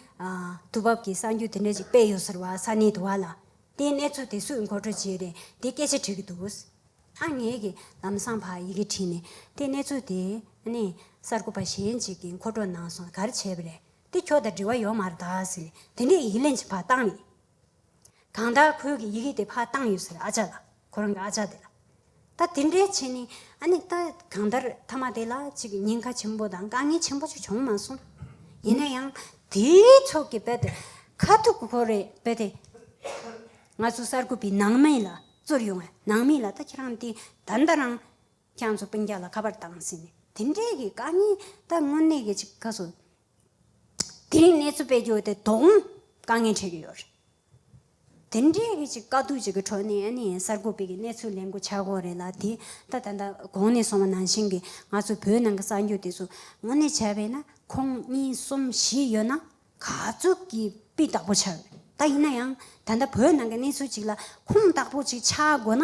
དུས་བབ་ཀྱི་གསར་འགྱུར་དེ་འདྲ་ཅིག་སྤེལ་ཡོད་ཟེར་བ་ས་གནས་དུ་བ་ལ་དེའི་གནས་ཚུལ་དེ་སུས་མགོ་སྤྲོད་བྱས་ཏེ་དེ་སྐད་ཆ་དྲིས་ཀྱི་འདུག་ཨན་ངས་ཀྱི་ལམ་སང་ཕ་ཡི་གེ་བྲིས་ནས་དེ་གནས་ཚུལ་དེ་ཨ་ནེ་གསར་འགོད་པ་གཞན་ཅིག་གིས་མཁོ་སྤྲོད་གནང་སོང་ག་རེ་བྱས་པ་རེད། འདི་ཁྱོ་ད་འདྲི་བ་ཡོག་མར་གདའ་ཟེར་ནས་དེ་འདྲས་ཡིག་ལན་ཅིག་ཕར་བཏང་ནས། གང་ལྟར་ཁོའི་གི་ཡི་གེ་དེ་ཕར་བཏང་ཡོད་ཟེར་ཨ་ཅག་ལ་ཁོ་རང་གི་ཨ་ཅག་དེ་ལ། ད་དེ་འདྲས་བྱས་ནས་ཨ་ནི་ད་གང་ལྟར་མཐའ་མ་དེ་ལ་ཅིག་ཉེན་ཁ་ཆེན་པོ་དང་དཀའ་ངལ་ཆེན་པོ་ཅིག་བྱུང་མ་སོང། ཡིན་ན་ཡང་དེའི་ཚོགས་ཀྱི་དཔེ་དེ་ཁ་ཐུག་གི་ཁོ་རེ་དཔེ་དེ། ང་ཚོ་གསར་འགོད་པའི་ནང་མི་ལ་བཙུར་ཡོང་བས་ནང་མི་ལ་ད་ཁྱེད་རང་དེ་ད་ད་རང། ཁྱང་ཚོ་སྤུན་རྒྱག་ལ་ཁ་པར་བཏང་ཟིན། དེ་འབྲེལ་གྱི་དཀའ་ངལ་ད་དངོས་གནས་གལ་ཆེ་ག་ཚོད། དེ་རིང་གནས་ཚུལ་སྤེལ་རྒྱུ་དེ་དོ་དགོང་དཀའ་ངལ་འཕྲད་ཀྱི་ཡོད་རེད། དེ་འབྲེལ་གྱི་ཅིག་དཀའ་སྡུག་ཅིག་གི་ཁྲོད་ནས་ནི་གསར་འགོད་པའི་གི་གནས་ཚུལ་ལེན་དགོས་ཆགས་དགོས་རེད་ལ་དེ་ད་ད་ལྟ་གོང་ནས་སོང་བ་ནང་བཞིན་གྱི་ང་ཚོའི་བོད་ནང་གི་གསར་འགྱུར་དེ་ཚོ་དངོས་གནས་བྱས་པས་ན་ཁོང་གཉིས་གསུམ་བཞི་ཡོད་ན་ག་ཚོད་ཀྱི་དཔེ་དག་པོ་ཆགས་ཡོད་ད་ཡིན་ན་ཡང་ད་ལྟ་བོད་ནང་གི་གནས་ཚུལ་ཅིག་ལ་ཁུངས་དག་པོ་ཅིག་ཆགས་དགོས་ན་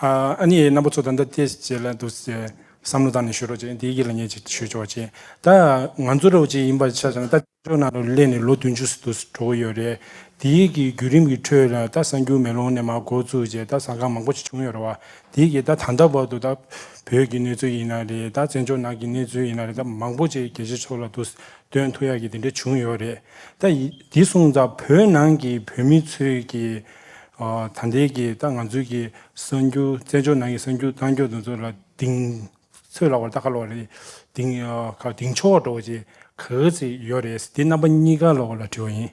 ཨཱ་ནི་ཡའི་རྣམ་པ་ཚོ་ད་ལྟ་དེ་བྱེད་ལ་འདུག་ཅེས་བསམ་བློ་བཏང་ནས་ཞུས་རོགས་ཅེས་བདེ་སྐྱིད་ལ་ཉེ་ཅིག་ཞུས་ཆོག་ཅེས་ད་ང་ཚོ་རོགས་ཅིག་ཡིན་པར་ཆ་བཞག་ན་ད་བཙན་བྱོལ་ནང་དུ་སླེབས་ནས་ལོ་བདུན་ཅུ་ཟིན་འདུག་འགྲོ་གི་ཡོད་རེད་དེ་གི་བརྒྱུད་རིམ་གྱི་ཁྲོད་ལ་ད་གསར་འགྱུར་མེ་ལོང་ནས་མ་འགོ་བཙུགས་རྗེས་ད་ཟང་ཁང་མང་པོ་ཞིག་བྱུང་ཡོད་རེད་བ་དེ་གི་ད་ད་ལྟ་བར་དུ་ད་བོད་ཀྱི་གནས་ཚུལ་ཡིན་ན་རེད་ད་བཙན་བྱོལ་ནང་གི་གནས་ཚུལ་ཡིན་ན་རེད་ད་མང་པོ་ཅིག་རྒྱལ་སྤྱི་ཚོགས་ལ་འདུག་དོན་དུ་ཡག་གི་དེ་འདྲ་བྱུང་ཡོད་རེད་ད། དེ་སོང་ཙང་བོད་ནང་གི་བོད་མི་ཚོས་ཀྱི་ད་འདས་ཀྱི་ད་ང་ཚོས་ཀྱི་གསར་འགྱུར་བཙན་བྱོལ་ནང་གི་གསར་འགྱུར་གཏང་རྒྱུ་དེ་ཚོ་ལ་དིང་ཚོད་ལ་བར་ད་ག་ལོག་རེད་དིང་ག་དིང་ཆོག་འགྲོ་བ་ཅིག་ག་གེ་ཚིག་ཡོད་རེད་དེ་རྣམ་པ་གཉིས་ཀ་ལོག་ལ་དྲི་བ་ཡིན།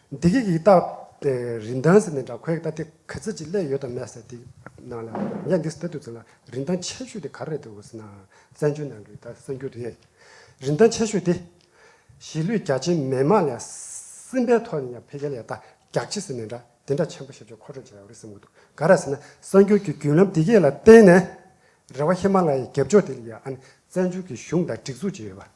འདི་སྐད་ཡིག་བཏགས་པའི་རིན་ཐང་ཟེར་ནས་འདྲ་ཁོའི་ཨ་ཏི་ག་ཚད་ཅིག་གླས་ཡོད་དམ་མེད་ཟེར་དེ་ནང་ལ་ངས་འདི་ལྟ་དུས་ཚོད་ལ་རིན་ཐང་ཆེ་ཤོས་དེ་ག་རེད་འདུག་ཟེར་ནའང་བཙན་བྱོལ་ནང་གི་ད་གསར་འགྱུར་དེ་རིན་ཐང་ཆེ་ཤོས་དེ། གཞིས་ལུས་རྒྱ་ཆེན་མི་དམངས་ལས་སེམས་པའི་ཐོག་ནས་ཡང་འཕེལ་རྒྱས་ལས་རྟགས་རྒྱག་ཆེད་ཟེར་ནས་འདྲ་དེ་འདྲ་ཆེན་པོ་ཞིབ་ཆ་མཁོ་སྤྲོད་བྱས་ཡོད་རེད་བསམ་གྱི་འདུག་ག་རེད་ཟེར་ན་གསར་འགྱུར་གྱི་རྒྱུན་ལམ་འདི་སྐད་ལ་བརྟེན་ནས་རེ་བ་ཧི་མ་ལ་ཡའི་རྒྱབ་ཕྱོགས་དེ་ལ་ཡང་ཨ་ནི་བཙན་བྱོལ་གྱི་གཞུང་དང་སྒྲིག་འཛུགས་ཅིག་ཡོད་པ།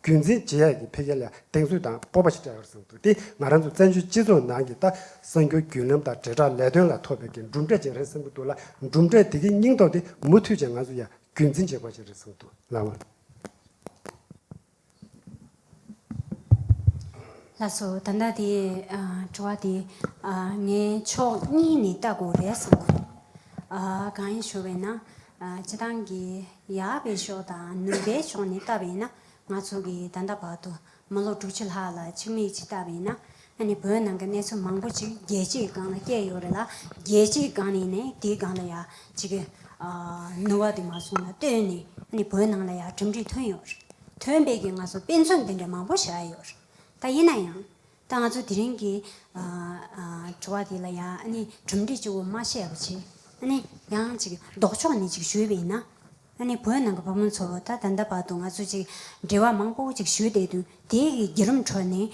རྒྱུན་འཛིན་བྱེད་ཡག་གི་འཕེལ་རྒྱས་ལ་གདེང་ཚོད་དང་སྤོབས་པ་ཞིག་སྤྲད་ཡོད་པར་གསུངས་འདུག་དེས་ང་རང་ཚོ་བཙན་བྱོལ་སྤྱི་ཚོགས་ནང་གི་ལྟ་གསང་རྒྱུ་རྒྱུན་ལམ་དང་དྲིལ་བསྒྲགས་ལས་དོན་ལ་ཐོབ་ཡོད་ཀྱི་གྲུབ་འབྲས་ཅིག་རེད་བསམ་གྱི་འདུག་ལ་གྲུབ་འབྲས་དེ་གའི་སྙིང་སྟོབས་དེ་མུ་མཐུད་ཅིག་ང་ཚོས་ཡང་རྒྱུན་འཛིན་བྱེད་དགོས་པ་ཞིག་རེད་བསམ་འདུག་ལགས། ལགས་སོ། ད་ལྟ་དེ་དྲི་བ་དེ་ངས་ཕྱོགས་གཉིས་ནས་ལྟ་དགོས་རེད་བསམ་གྱི་འདུག་གང་ཡིན་ཞུ་བས་ན། སྤྱི་བཏང་གི་ཡག་པའི་ཕྱོགས་དང་ནུས་པའི་ཕྱོགས་ནས་བལྟ་བས་ན་ང་ཚོ་གི་ད་ལྟ་བར་དུ་མི་ལོ་དྲུག་ཅུ་ལྷག་ལ་ཕྱི་མིག་ཅིག་བལྟ་བས་ན་ཨ་ནི་བོད་ནང་གི་གནས་ཚུལ་མང་པོ་ཅིག་རྒྱལ་སྤྱིའི་སྒང་ལ་སྐྱེལ་ཡོད་རེད་ལ་རྒྱལ་སྤྱིའི་སྒང་ནས་ནི་དེའི་སྒང་ལ་ཡག་ཅིག་གི་ནུས་བ་དེ་མ་སོང་ལ་བལྟོས་ནས་ཨ་ནི་བོད་ནང་ལ་ཡག་གྲུབ་འབྲས་ཐོན་ཡོད་རེད་ཐོན་པས་ཀྱི་ང་ཚོ་དཔེ་མཚོན་དེ་འདྲ་མང་པོ་བཞག་ཡོད་རེད་ད་ཡིན་ན་ཡང་ད་ང་ཚོ་དེ་རིང་གི་དྲི་བ་དེ་ལ་ཡང་གྲུབ་འབྲས་གཅིག་བུ་མ་བཤད་པ་ཆེ། ཡང་གཅིག་ལྡོག་ཕྱོགས་ནས་གཅིག་ཞུས་པས་ན། བོད་ནང་གི་བུ་མོ་ཚོ་ད་ད་ལྟ་བར་དུ་ང་ཚོ་གཅིག་འབྲེལ་བ་མང་པོ་གཅིག་ཞུས་བསྡད་དུས་དེ་གི་བརྒྱུད་རིམ་ཁྲོད་ནས་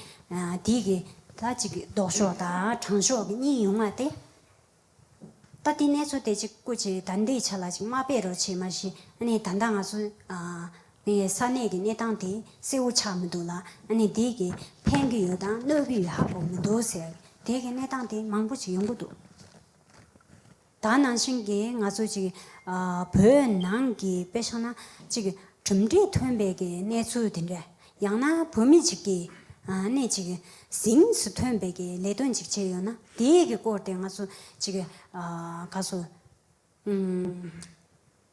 དེ་གི་ད་གཅིག་ལྡོག་ཕྱོགས་དང་དྲང་ཕྱོགས་གཉིས་ཡོང་བ་སྟེ། ད་དེ་ནས་ཚོ་དེ་ཅིག་བཀོད་ཅེས་ད་འདིའི་ཆ་ལ་ཅིག་མ་སྤེལ་རོགས་བྱས་མ་གཞི་ནས་ད་ལྟ་ང་ཚོ་ཡི་ས་གནས་ཀྱི་གནས་སྟངས་དེ་གསལ་བོ་ཆགས་མི་འདུག་ལ་ནི་དེ་གི་ཕན་གི་ཡོད་དང་གནོད་གི་ཡོད་ཧ་གོ་མི་འདུག་ཟེར་དེ་གི་གནས་སྟངས་དེ་མང་པོ་ཅིག་ཡོང་གི་འདུག་ད་ནང་བཞིན་གྱི་ང་ཚོ་ཅིག་བོད་ནང་གི་དཔེ་ཆ་ན་ཅིག་གྲུབ་འབྲས་ཐོན་པའི་གི་གནས་ཚུལ་དེ་འདྲ་ཡང་ན་བུད་མེད་ཅིག་གིས་གནས་ཅིག་གཟིངས་སུ་ཐོན་པའི་གི་ལས་དོན་ཅིག་བྱས་ཡོད་ན་དེའི་གི་སྐོར་དེ་ང་ཚོ་ཅིག་གི་ག་སོ་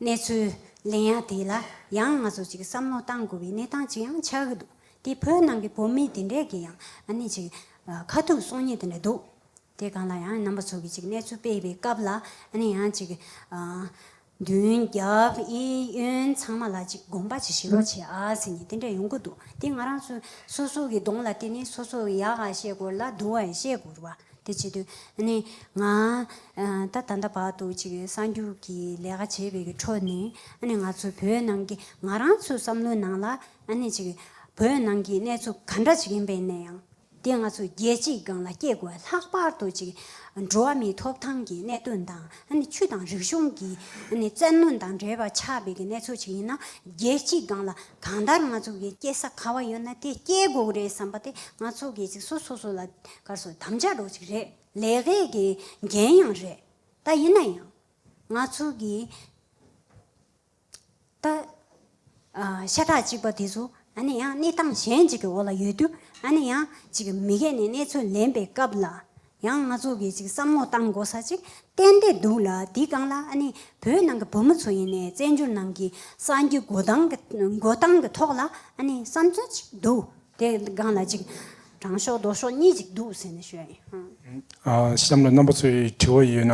གནས་ཚུལ་གླེང་ཡ་དེ་ལ་ཡང་ང་ཚོ་ཅིག་བསམ་བློ་གཏང་དགོས་པའི་གནས་སྟངས་ཅིག་ཡང་ཆགས་ཀྱི་འདུག་དེ་བོད་ནང་གི་བུད་མེད་དེ་འདྲས་ཀྱི་ཡང་གནས་ཅིག་ཁ་ཐུག་སོང་ཉེ་དེ་འདྲས་འདུག་དེ་གང་ལ་ཡང་རྣམ་པ་ཚོགས་ཀྱིས་ཅིག་གནས་ཚུལ་སྤེལ་བའི་སྐབས་ལ་ནི་ཡང་ཅིག། མདུན་རྒྱབ་གཡས་གཡོན་ཚང་མ་ལ་ཅིག་དགོངས་པ་ཅིག་ཞི་རོགས་བྱེད་ཨ་ཟེར་ནས་དེ་འདྲ་ཡོང་གི་འདུག་དེ་ང་རང་ཚོའི་སོ་སོ་གི་གདོང་ལ་བལྟས་ནས་སོ་སོ་ཡག་ཨ་བཤད་དགོས་ལ་སྡུག་ཨ་བཤད་དགོས་བ་དེ་བྱེད་དུས་ནི་ང་ད་ད་ལྟ་བར་དུ་ཅིག་གསར་འགྱུར་གྱི་ལས་ཀ་བྱེད་པའི་ཁྲོད་ནས་ནི་ང་ཚོའི་བོད་ནང་གི་ང་རང་ཚོའི་བསམ་བློའི་ནང་ལ་ནི་ཅིག་བོད་ནང་གི་གནས་ཚུལ་ག་འདྲ་ཅིག་ཡིན་པའི་ནས་ཡང། དེས་ང་ཚོ་རྒྱལ་སྤྱིའི་སྒང་ལ་སྐྱེས་དགུ་ལྷག་པར་དུ་ཅིག་འགྲོ་བ་མིའི་ཐོབ་ཐང་གི་གནད་དོན་དང་ཆུ་དང་རིག་གཞུང་གི་བཙན་གནོན་དང་འབྲེལ་བ་ཆགས་པའི་གནས་ཚུལ་ཞིག་ཡིན་ན་རྒྱལ་སྤྱིའི་སྒང་ལ་གང་ལྟར་ང་ཚོ་གི་སྐྱེ་ས་ག་བ་ཡོད་ན་དེ་སྐྱེ་དགུ་རེད་བསམ་པ་དེ་ང་ཚོ་གི་ཅིག་སོ་སོ་སོ་ལ་གར་སོ་དམ་བཅའ་འགྲོ་ཅིག་རེད་ལས་ཀའི་གི་འགན་ཡང་རེད་ད་ཡིན་ན་ཡང་ང་ཚོ་གི། ད། ཤ་ཁྲག་གཅིག་པ་དེ་ཚོ་ཨ་ནེ་ཡང་གནས་སྟངས་གཞན་ཅིག་གི་འོག་ལ་ཡོད་དུས་ཨ་ནེ་ཡང་ཅིག་མི་སྐད་ནས་གནས་ཚུལ་ལེན་པའི་སྐབས་ལ་ཡང་ང་ཚོ་གིས་ཅིག་བསམ་བློ་གཏང་དགོ་ས་ཅིག་གཏན་ནས་འདུག་ལ་དེའི་སྒང་ལ་ཨ་ནེ་བོད་ནང་གི་བུ་མོ་ཚོ་ཡིན་ནས་བཙན་བྱོལ་ནང་གི་སངས་རྒྱས་འགོ་སྟངས་ཀྱི་འགོ་སྟངས་ཀྱི་ཐོག་ལ་ཨ་ནེ་བསམ་ཚུལ་ཅིག་འདུག་དེའི་སྒང་ལ་ཅིག་དྲང་ཤོག་ལྡོག་ཤོག་གཉིས་ཅིག་འདུག་ཟེར་ནས་ཞུ་ཡ་ཡིན་ཧཧཧ། གཤམ་ལ་རྣམ་པ་ཚོའི་དྲི་བ་ཡོད་ན།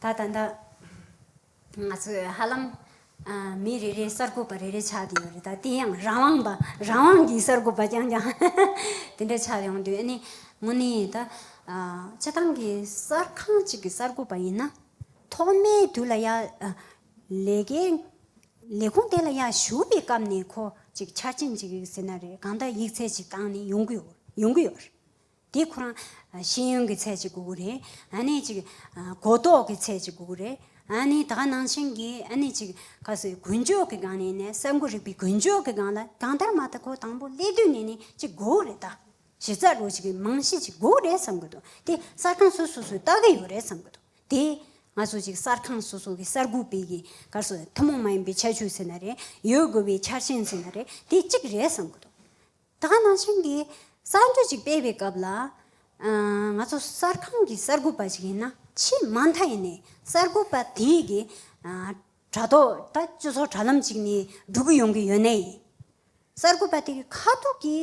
ད་ལྟ་འདི་ང་ཚོས་ཧ་ལམ་མི་རེ་རེ་གསར་འགོད་པ་རེ་རེ་ཆགས་ཀྱི་ཡོད་རེད་ད་དེ་ཡང་རང་དབང་པ་རང་དབང་གི་གསར་འགོད་པ་རྐྱང་རྐྱང་དེ་འདྲ་ཆགས་ཡོང་དུས་ནི་དངོས་ནས་ད་སྤྱི་བཏང་གི་གསར་ཁང་ཅིག་གི་གསར་འགོད་པ་ཡིན་ན་ཐོག་མའི་དུས་ལ་ཡ་ལས་ཀའི་ལས་ཁུངས་དེ་ལ་ཡ་ཞུགས་པའི་སྐབས་ནས་ཁོ་ཅིག་ཆ་རྐྱེན་ཅིག་ཟེར་ན་རེད་གང་ལྟར་ཡིག་ཚད་ཅིག་བཏང་ནས་ཡོང་གི་ཡོང་གི་ཡོད་རེད། དེ་ཁོ་རང། ཤེས་ཡོན་གྱི་ཚད་ཅིག་དགོས་གི་རེད། ཨ་ནི་ཅིག། གོ་རྟོགས་ཀྱི་ཚད་ཅིག་དགོས་གི་རེད། ཨ་ནི་ད་ནང་བཞིན་གྱི་ཨ་ནི་ཅིག། གལ་སྲིད་དགུན་ཆོས་ཀྱི་སྒང་ནས་ནས་གསར་འགོད་རིག་པའི་དགུན་ཆོས་ཀྱི་སྒང་ལ་གང་ལྟར་མ་ཐ་གོ་དང་པོ་སླེབས་དུས་ནས་ནི་ཅིག་དགོས་གི་རེད་ད། གཞི་རྩ་རུ་ཅིག་རྨང་གཞི་ཅིག་དགོས་གི་རེད་བསམ་གི་འདུག་དེ་གསར་ཁང་སོ་སོ་སོས་བལྟ་གི་ཡོད་རེད་བསམ་གི་འདུག་དེ། ང་ཚོ་ཅིག་གསར་ཁང་སོ་སོ་གི་གསར་འགོད་པས་གི་གལ་སྲིད་ཐུན་མོང་མ་ཡིན་པའི་ཁྱད་ཆོས་ཟེར་ན་རེད། ཡོད་དགོས་པའི་ཆ་རྐྱེན་ཟེར་ན་རེད་དེ་ཅིག་རེད་བསམ་གི་འདུག། ད་ཁ་ནང་ཆེན་གྱི་གསར་འགྱུར་ཅིག་སྤེལ་བའི་སྐབས་ལ། ང་ཚོ་གསར་ཁང་གི་གསར་འགོད་པ་ཞིག་ཡིན་ན་ཆེས་མ་མཐའ་ཡས་ནས་གསར་འགོད་པ་དེ་གི་དྲ་ཐོག་ད་སྤྱི་ཚོགས་དྲ་ལམ་ཅིག་ནས་སྒྲུག་གི་ཡོང་གི་ཡོད་ནའི། གསར་འགོད་པ་དེ་གི་ཁ་ཐུག་གི་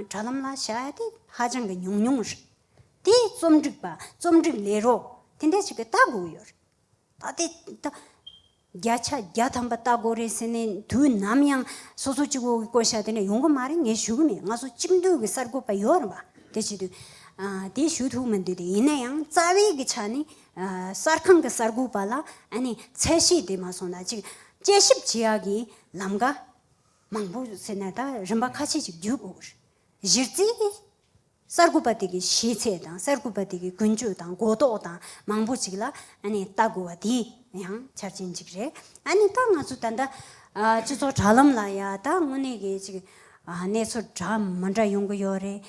དྲ་ལམ་ལ་བྱ་བ་དེ་ཧ་ཅང་གི་ཉུང་ཉུང་རེད། དེ་རྩོམ་སྒྲིག་པ་རྩོམ་སྒྲིག་ལས་རོགས་དེ་འདྲ་ཞིག་གི་ལྟ་དགོས་ཀྱི་ཡོད་རེད། ད་དེ་ད། བརྒྱ་ཆ་བརྒྱ་ཐམ་པ་ལྟ་དགོས་རེད་ཟེར་ནས་དུས་ནམ་ཡང་སོ་སོ་གཅིག་བུ་གི་བསྐོ་བཞག་དེ་འདྲ་ཡོང་གི་མ་རེད་ངས་ཞུ་གི་མེད་ང་ཚོ་གཅིག་འདུས་ཀྱི་གསར་འགོད་པ་ཡོད་རེད་པ་དེ་བྱེད་དུས་དེ་ཞུ་ཐུབ་མི་འདུག་དེ་ཡིན་ན་ཡང་རྩ་བའི་གི་ཆ་ནས་གསར་ཁང་གི་གསར་འགོད་པ་ལ་ཨ་ནི་ཚད་ཤེས་དེ་མ་སོང་ན་གཅིག་དཔྱད་ཞིབ་བྱེད་ཡག་གི་ལམ་ཀ་མང་པོ་ཟེར་ན་ད་རིམ་པ་ཁ་ཤས་ཅིག་བརྒྱུད་དགོས་གི་རེད་གཞི་རྩའི་གསར་འགོད་པ་དེ་གའི་གཞིས་ཚད་དང་གསར་འགོད་པ་དེ་གའི་ཀུན་སྤྱོད་དང་གོ་རྟོགས་དང་མང་པོ་ཅིག་ལ་བལྟ་དགོས་བ་དེ་ཡང་ཆ་རྐྱེན་གཅིག་རེད། ད་ང་ཚོ་ད་ལྟ་སྤྱི་ཚོགས་དྲ་ལམ་ལ་ཡང་ད་དངོས་གནས་ཀྱི་ཅིག་གནས་ཚུལ་འདྲ་མི་འདྲ་ཡོང་གི་ཡོད་རེད།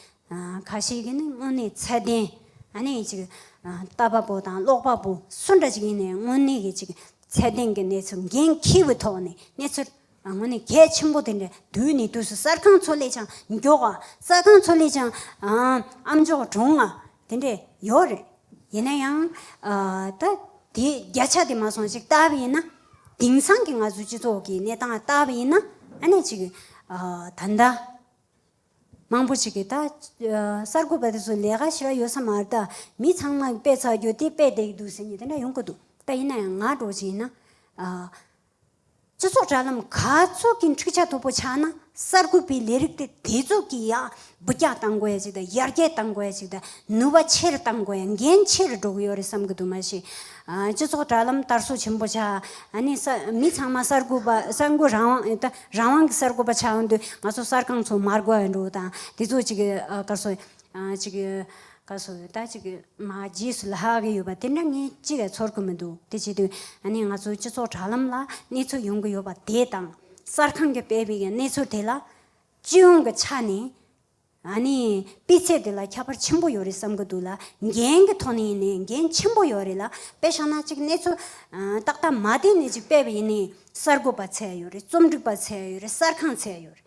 ཁ་ཤས་ཀྱི་ནི་དངོས་གནས་ཚད་ལྡན་ཅིག་ལྟ་བ་པོ་དང་ཀློག་པ་པོ་སུ་འདྲ་ཅིག་ཡིན་ནའི་དངོས་གནས་ཀྱི་ཅིག་ཚད་ལྡན་གྱི་གནས་ཚུལ་འགན་འཁྱེར་བའི་ཐོག་ནས་གནས་ཚུལ་རང་ངོ་ནས་གལ་ཆེན་པོ་དེ་འདྲ་བསྡུས་ནས་དུས་སུ་གསར་ཁང་མཚོ་ལས་ཆང་མགྱོགས་པ་རྩ་ཁང་མཚོ་ལས་ཆང་ཨ་མགྱོགས་གྲོང་ང་དེ་འདྲས་ཡོད་རེད། ཡིན་ན་ཡང། ད། དེ་བརྒྱ་ཆ་དེ་མ་སོང་ཅིག་ལྟ་བ་ཡིན་ན། དེང་སང་གི་ང་ཚོའི་སྤྱི་ཚོགས་ཀྱི་གནས་སྟངས་ལྟ་བ་ཡིན་ན་ཨ་ནས་ཅིག། ད་ལྟ། མང་པོ་ཅིག་གིས་ད། གསར་འགོད་པ་དེ་ཚོ་ལས་ཀ་ཞེ་བ་ཡོད་ས་མ་རེད་ད། མི་ཚང་མ་དཔེ་ཚགས་རྒྱུ་དེ་དཔེ་བལྟས་ཀྱི་འདུག་ཟེར་ནས་དེ་འདྲ་ཡོང་གི་འདུག་ད་ཡིན་ན་ཡང་ང་འགྲོ་ཅིག་ཡིན་ན། སྤྱི་ཚོགས་དྲ་ལམ་ག་ཚོད་ཀྱི་འཁྲིག་ཆ་དོད་པོ་ཆགས་ན་གསར་འགོད་པའི་ལས་རིགས་དེ་དེ་ཚོད་ཀྱིས་ཡག་འབུ་རྐྱག་བཏང་དགོས་ཅིག་དང་ཡར་རྒྱས་བཏང་དགོས་ཅིག་དང་ནུས་པ་ཆེར་བཏང་དགོས་ཡང་འགན་ཆེར་སྒྲོག་གི་ཡོད་རེད་བསམ་གྱི་འདུག་མ་གཞི་སྤྱི་ཚོགས་དྲ་ལམ་དར་སོ་ཆེན་པོ་ཆགས་ཨ་ནི་མི་ཚང་མ་གསར་འགོད་པ་གསར་འགོད་རང་དབང་ད་རང་དབང་གི་གསར་འགོད་པ་ཆགས་འདུག་ང་ཚོ་གསར་ཁང་ཚོ་མར་དགོས་འདུག་དང་དེ་ཚོ་ཅིག་ག་ཚོད་ཅིག་ག་སོགས་ཡོད་ད་ཅི་གི་མ་རྗེས་སུ་ལྷག་གི་ཡོད་པ་དེ་འདྲ་ངས་ཅི་བས་ཚོར་གི་མི་འདུག་དེ་བྱས་དུས་ཨ་ནི་ང་ཚོའི་སྤྱི་ཚོགས་དྲ་ལམ་ལ་གནས་ཚུལ་ཡོང་གི་ཡོད་པ་དེ་དང་གསར་ཁང་གི་སྤེལ་བའི་གནས་ཚུལ་དེ་ལ་སྤྱི་ཡོངས་ཀྱི་ཆ་ནས་ཨ་ནི་སྤུས་ཚད་དེ་ལ་ཁྱད་པར་ཆེན་པོ་ཡོད་རེད་བསམ་གི་འདུག་ལ་འགན་གི་ཐོག་ནས་ཡིན་ནའི་འགན་ཆེན་པོ་ཡོད་རེད་ལ་དཔེ་ཤང་ན་ཅིག་གནས་ཚུལ་ཏག་ཏག་མ་བལྟས་ནས་ཅིག་སྤེལ་བ་ཡིན་ནའི་གསར་འགོད་པ་ཚད་ཡོད་རེད་རྩོམ་སྒྲིག་པ་ཚད་ཡོད་རེད་གསར་ཁང་ཚད་ཡོད་རེད།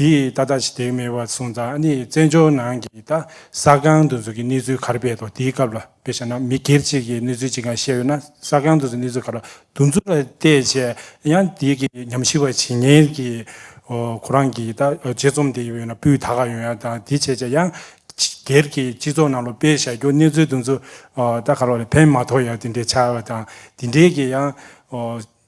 དེས་ད་ལྟ་ཞི་བདེ་མེད་པར་སོང་ཙང་ནི་བཙན་བྱོལ་ནང་གི་ད་ས་ཁང་དུ་འཛུལ་གྱི་གནས་ཚུལ་གར་སྤེལ་ཏོ་དེའི་སྐབས་ལ་དཔེ་བཞག་ན་མི་སྒེར་གཅིག་གི་གནས་ཚུལ་གཅིག་ག་བཤད་ཡོད་ན་ས་ཁང་དུ་འཛུལ་གནས་ཚུལ་ག་ལ་འདུག་འཛུལ་བ་བལྟས་བྱས་ཡང་དེ་གི་ཉམས་ཞིབ་པ་བྱེད་ངེས་ཀྱི་ཁོ་རང་གི་ད་དཔྱད་རྩོམ་དེ་ཡོད་ན་སྤུས་དག་ག་ཡོད་ཡང་ད་དེ་བྱས་བྱས་ཡང་སྒེར་གྱི་སྤྱི་ཚོགས་ནང་ལོ་སྤེལ་བཞག་རྒྱུ་གནས་ཚུལ་འདུག་འཛུལ་ད་ག་ལ་བ་ལ་ཕན་མ་ཐོག་ཡང་དེ་འདྲའི་བྱ་བ་དང་དེ་འདྲའི་གི་ཡང།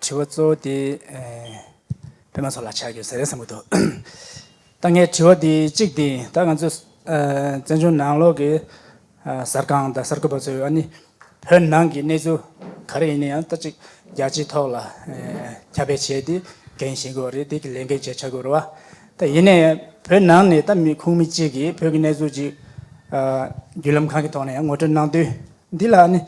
དྲི་བ་གཙོ་བོ་དེ། བོད་མང་ཚོགས་ལ་ཆ་རྒྱུས་ཟེར་ཡ་ཟེར་མི་འདུག་ད་ངའི་དྲི་བ་དེ་གཅིག་དེ་ད་ང་ཚོས་བཙན་བྱོལ་ནང་ལོག་གི་གསར་ཁང་དང་གསར་འགོད་པ་ཚོས་ཨ་ནི་བོད་ནང་གི་གནས་ཚུལ་ག་རེ་ཡིན་ན་ཡང་ད་ཅིག་རྒྱ་སྤྱིའི་ཐོག་ལ་ཁྱབ་སྤེལ་བྱས་ཏེ་འགན་བཞེས་དགོས་པ་རེད་དེ་གི་ལས་འགན་བཅས་བྱ་དགོས་རེད་བ། ད་ཡིན་ནའི་བོད་ནང་ནས་ད་མི་ཁུངས་མི་གཅིག་གིས་བོད་ཀྱི་གནས་ཚུལ་གཅིག་བརྒྱུད་ལམ་གང་གི་ཐོག་ནས་ཡང་ངོ་སྤྲོད་གནང་དུས་འདི་ལ་ཨ་ནི་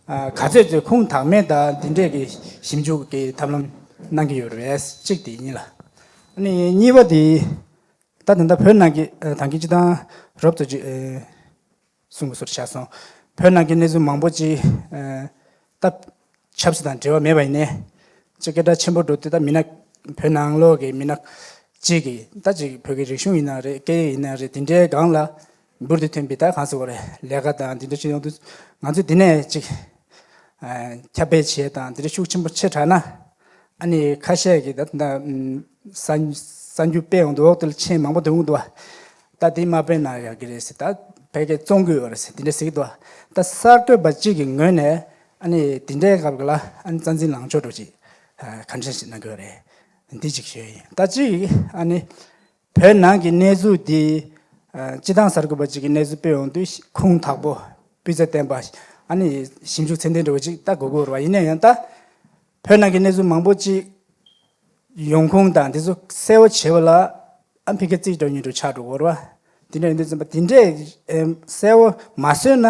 ག་ཚོད་ཀྱི་ཁུངས་དག་མེད་དག་འདི་འདྲས་ཀྱི་ཞིབ་འཇུག་གི་ཐབས་ལམ་གནང་གི་ཡོད་རེད་གཅིག་དེ་ཡིན་ལ། གཉིས་པ་དེ། ད་དེ་འདྲ་བོད་ནང་གི་དང་གི་སྤྱི་དང་རོབ་ཙོ་ཅིག་གསུང་གི་སོར་བཞག་སོང། བོད་ནང་གི་གནས་ཚུལ་མང་པོ་ཅིག་ད་ཆབ་སྲིད་དང་འབྲེལ་བ་མེད་པ་ཡིན་ནའི་ཅིག་སྐད་གྲགས་ཆེན་པོ་འགྲོ་དུས་ད་མི་ནག་བོད་ནང་ལོག་གི་མི་ནག་ཅིག་གིས་ད་ཅིག་བོད་ཀྱི་རིག་གཞུང་ཡིན་ན་རེད་སྐད་ཡིག་ཡིན་ན་རེད་དེ་འདྲའི་སྒང་ལ་འབུར་དུ་ཐོན་པའི་དག་གང་ཟེར་བ་རེད་ལས་ཀ་དང་འདི་འདྲ་ཅི་ཡོང་དུས་ང་ཚོས་འདི་ནས་ཅིག་ཁྱབ་སྤེལ་བྱས་དང་འདི་འདྲ་ཤུགས་ཆེན་པོ་ཆེ་དྲགས་ན་ཨ་ནི་ཁ་ཤས་ཀྱི་ད་ལྟ་གསར་འགྱུར་སྤེལ་འོང་དུས་འོག་ཏུ་མཆན་མང་པོ་འདོན་འོང་དུས་ད་འདི་མ་སྤེལ་ན་ཡག་གི་རེད་ཟེར་ད་བལ་ཀའི་བཙོང་དགོས་ཡོད་རེད་འདི་འདྲ་ཟེར་གི་འདུག་ད་གསར་གཏོད་པ་གཅིག་གི་ངོས་ནས་ཨ་ནི་འདི་འདྲའི་སྐབས་ལ་ཨ་ནི་རྩ་འཛིན་ལངས་ཕྱོགས་དྲུག་ཅིག་གང་འདྲ་ཞིག་གནང་དགོས་རེད་འདི་གཅིག་ཞུ་ཡི་ཡིན་ད་གཅིག་ཨ་ནི་བོད་ནང་གི་གནས་ཚུལ་འདི། སྤྱི་བཏང་གསར་འགོད་པ་གཅིག་གིས་གནས་ཚུལ་སྤེལ་འོང་དུས་ཁུངས་དག་པོ་སྤུས་ཚད་ལྡན་པ། ཨ་ནི་ཞིབ་འཇུག་ཚད་ལྡན་འདྲ་བོ་ཅིག་ལྟ་དགོས་དགོས་རེད་བ། ཡིན་ན་ཡང་ད། བོད་ནང་གི་གནས་ཚུལ་མང་པོ་ཅིག། ཡོང་ཁུངས་དང་དེ་ཚོ་གསལ་བོ་བྱེད་པ་ལ། ཨ་ཕི་ཁ་རྩིས་དྲ་ཉུལ་དུ་ཆགས་འགྲོ་གོ་རེད་བ། དེ་འདྲ་ཡིན་དུས་བཙན་པོ་དེ་འདྲས་གསལ་བོ་མ་བཟོས་ན་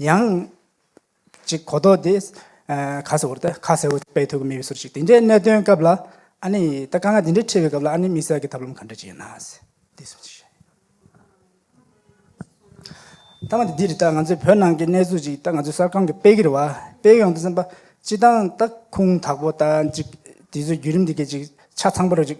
ཡང། གཅིག་གོ་ལྡོག་དེ། ཁ་སེར་བོ་དེ་ཁ་སེར་བོ་དཔེ་མཐོ་གི་མི་བའི་ཟུར་ཞིག་དེ་འདྲའི་གནད་དོན་སྐབས་ལ། ཨ་ནི་ད་དཀའ་ངལ་དེ་འདྲའི་འཕྲད་པའི་སྐབས་ལ་ཨ་ནི་དམིགས་བསལ་གྱི་ཐབས་ལམ་ག་འདྲ་ཅིག་ཡོད་ན། དེ་གསུངས་ཤིག། མཐའ་མ་དེ་འདི་རེད་ད་ང་ཚོའི་བོད་ནང་གི་གནས་ཚུལ་ཅིག་ད་ང་ཚོའི་གསར་ཁང་གི་དཔེ་གིར་བ་དཔེ་ཡོང་དུ་སེམས་པ། སྤྱི་བཏང་ད་ཁུངས་དག་པོ་ད་ཅིག་དེ་ཚོའི་བརྒྱུད་རིམ་དེ་གས་ཅིག་ཆ་ཚང་པོ་ར་ཅིག་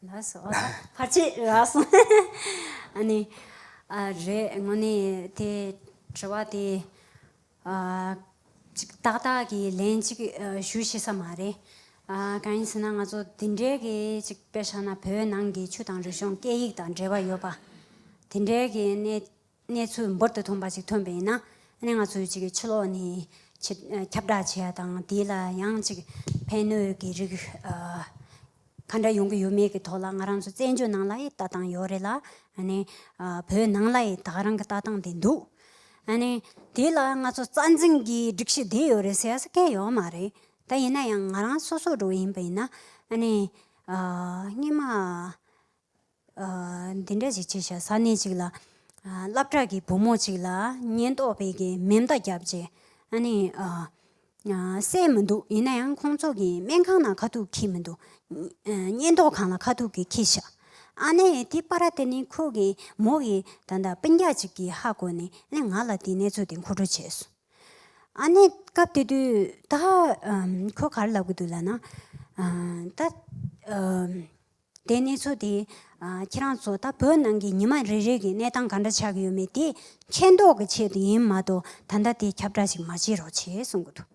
ཕར་ཆེར་རག་སོང། ཨ་ནི། ཨ་རེད་དངོས་གནས་དེ་དྲི་བ་དེ། ཅིག་ཏག་ཏག་གི་ལན་གཅིག་ཞུ་ཤེས་ས་མ་རེད། གང་ཡིན་ཟེར་ན་ང་ཚོ་འདི་འདྲའི་གི་ཅིག་དཔེར་བཞག་ན་བོད་ནང་གི་ཆུ་དང་རི་གཞུང་སྐད་ཡིག་དང་འབྲེལ་བ་ཡོད་པ། དེ་འདྲའི་གི་གནས་གནས་ཚུལ་འབུར་དུ་ཐོན་པ་ཞིག་ཐོན་པ་ཡིན་ན། ང་ཚོས་ཅིག་ཕྱི་ལོགས་ནས་ཁྱབ་བསྒྲགས་བྱས་པ་དང་དེ་ལ་ཡང་ཅིག་ཕན་གནོད་ཀྱི་རིགས་ག་འདྲ་ཡོང་གི་ཡོད་མེད་ཀྱི་ཐོག་ལ་ང་རང་ཚོ་བཙན་བྱོལ་ནང་ལ་ཡི་ལྟ་སྟངས་ཡོད་རེད་ལ། བོད་ནང་ལ་ཡི་དྭགས་རང་གི་ལྟ་སྟངས་དེ་འདུག་དེ་ལ་ང་ཚོ་རྩ་འཛིན་གྱི་སྒྲིག་གཞི་དེ་ཡོད་རེད་ཟེར་ས་སྐད་ཡོད་མ་རེད། ད་ཡིན་ན་ཡང་ང་རང་སོ་སོ་རུ་ཡིན་པ་ཡིན་ན། སྙན་མ་འདི་འདྲ་ཞིག་བྱས། ས་གནས་གཅིག་ལ་སླབ་གྲགས་ཀྱི་བུ་མོ་གཅིག་ལ་ཉེན་རྟོག་པས་ཀྱིས་མེ་མདའ་བརྒྱབ་རྗེས་ཨ་ནེ་བསད་མི་འདུག་ཡིན་ན་ཡང་ཁོང་ཚོ་གིས་སྨན་ཁང་ནང་ཁ་ཐུག་འཁྱིལ་མི་འདུག་ཉེན་རྟོག་ཁང་ལ་ཁ་ཐུག་གིས་འཁྱིལ་ཤག་ཨ་ནེ་དེ་པར་དེ་ནི་ཁོ་གིས་མོ་གི་ད་ལྟ་དཔེ་རྒྱག་ཅིག་གིས་ཧ་གོ་ནས་ཨ་ནེ་ང་ལ་དེའི་གནས་ཚུལ་དེ་མཁོ་སྤྲོད་བྱས་སོང། ཨ་ནེ་སྐབས་དེ་དུས་ད་ཁོ་གར་ལབ་ཀྱི་འདུག་ལབ་ན། ད། དེ་གནས་ཚུལ་དེ། ཁྱེད་རང་ཚོ་ད་བོད་ནང་གི་ཉི་མ་རེ་རེ་གི་གནས་སྟངས་ག་འདྲ་ཆགས་ཀྱི་ཡོད་མེད་དེ། མཁྱེན་རྟོགས་ཀྱི་ཆེད་དུ་ཡིན་མ་གཏོགས་ད་ལྟ་དེ་ཁྱབ་བསྒྲགས་ཤིག་མ་བྱེད་རོགས་བྱས་གསུང་གི་འདུག་